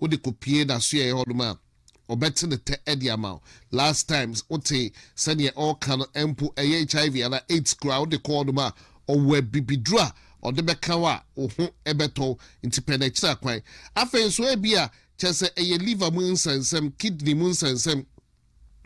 wode kopue nasoɛɛ hɔ nom a ɔbɛte ne tɛ de ama wo last time wote sɛdeɛ ɔɔka no mpo ɛyɛ HIV anaa AIDS koraa wode kɔ hɔ nom a ɔwɔ abibiduro a ɔde bɛka wo a wo ho bɛtɔ wo nti pɛ no akyira kwan afei nso ebia kyɛsɛ ɛyɛ liver mu nsɛnsɛm kidney mu nsɛnsɛm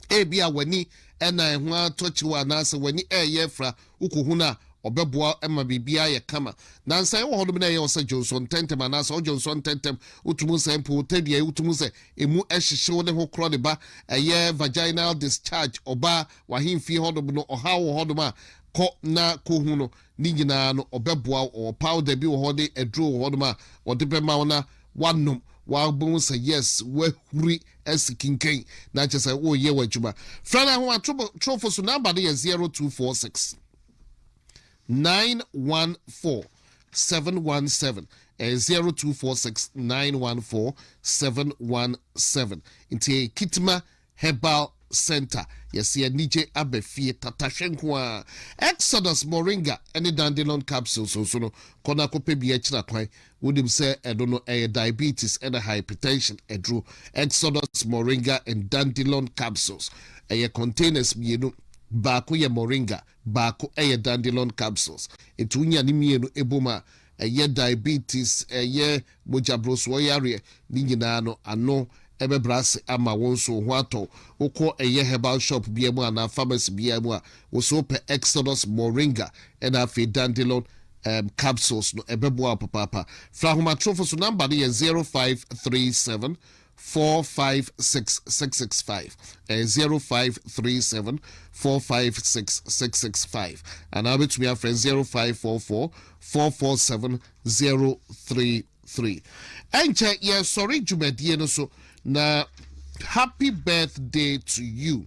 Ebia w'ani na ɛho atɔ kyew anaasɛ w'ani reyɛ afira, wukohu no a, ɔbɛboa ma biribiara ayɛ kama. Na nsɛe wɔ hɔnom na ɛyɛ wo sɛ dwonsɔ ntɛmntɛm anaasɛ ɔdwonsɔ ntɛmntɛm. Wotumi nsɛe mpo wo tadua yi, wotumi hu sɛ emu hyehye wo ne ho korɔ ne ba. Ɛyɛ vaginal discharge, ɔbaa, w'ahemfie hɔnom no, ɔhaw wɔ hɔnom a, kɔ na kohu no. ne nyinaa no, ɔbɛboa wo. Ɔwɔ powder bi wɔ hɔ ne aduro wɔ hɔnom a ɔde bɛma wo na woanom. Woabɔ hu sɛ yes, woahuri asi kinkan na kyerɛ sɛ woreyɛ w'adwuma. Frɛ no ahomatorofo so. Number no yɛ 0246 914 717. Ɛyɛ 0246 914 717. Nti ɛyɛ kitma Herbal Centre Yɛse anigye aba fie tata hwɛ nko ara Exodus Moringa ne Dandelon Capsules nso no kɔ na kɔpɛ bi akyira kwan wonim sɛ ɛno no ɛyɛ diabetes ne hypertension aduro Exodus Moringa and Dandelon Capsules ɛyɛ containers mmienu baako yɛ Moringa baako yɛ Dandelon Capsules nti wonya ne mmienu bom a ɛyɛ diabetes, ɛyɛ mogyaborosoɔ yareɛ, ne nyinaa no ano bɛbrɛ ase ama wo nso wo ho atɔ wo. Wokɔ ɛyɛ herbal shop biara mu anaa pharmacy biara mu a, wo so wopɛ Exodus Moringa ɛna afei Dandelon um, capsules no, ɛbɛboa wo papaapa. Fra ahomatorofo so, number no yɛ zero five three seven four five six six six five ɛyɛ zero five three seven four five six six six five anaa wobɛtumi afrɛ zero five four four four four seven zero three three ɛnkyɛ yɛsɔre dwumadie no so na happy birthday to you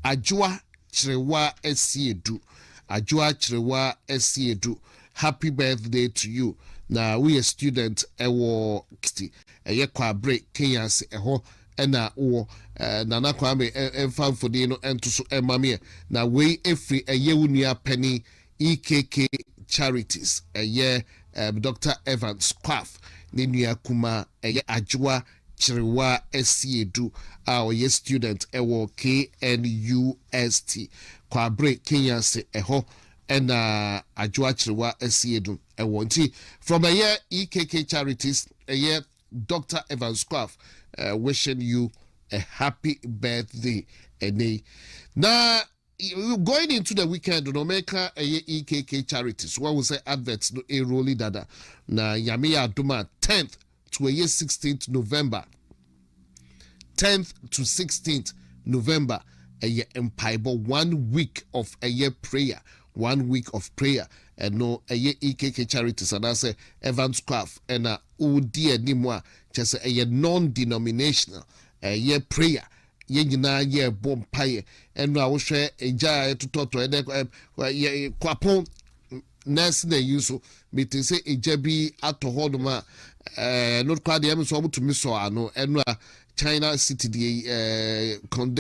adwoa kyerewa asiedu adwoa kyerewa asiedu happy birthday to you na woyɛ student ɛwɔ kiti. ɛyɛ kwabre kenyanse ɛhɔ na wowɔ eh, Nana Kwame eh, ɛmfa mfoni no ɛnto so ɛma me eh, na wei ɛfiri ɛyɛ wo nua pɛni EKK Charities ɛyɛ eh, Dr. Evans Kwaf ne nua kuma ɛyɛ Adwoa Kyerewa Asiedu a ɔyɛ student ɛwɔ KNUST kwabre kenyanse ɛhɔ ɛna Adwoa Kyerewa Asiedu ɛwɔ nti from ɛyɛ EKK charities ɛyɛ Doctor Evans Squaf uh, wishing you a happy birthday ɛnɛ na going into the weekend no mɛka ɛyɛ EKK charities wɔn sɛ adverts no eroli dada na nyame yɛ adum a tenth to ɛyɛ sixteenth November, tenth to sixteenth November ɛyɛ mpaebɔ one week of ɛyɛ prayer one week of prayer ɛno ɛyɛ EKK Charities anaasɛ Evans Kwaf ɛna ɔdi anim a kyɛ sɛ ɛyɛ non-denominational ɛyɛ prayer Yɛn nyinaa yɛɛ bɔ mpaeɛ ɛno a wohwɛ gya a ɛtotɔtɔ ɛnɛ yɛ kwapɔn nɛɛse na yi nso mete sɛ gya bi atɔ hɔ nom a ɛno koraa deɛ ɛmi nso wɔn tumi sɔ ano ɛno a China city deɛ ɛɛ kɔndɛ.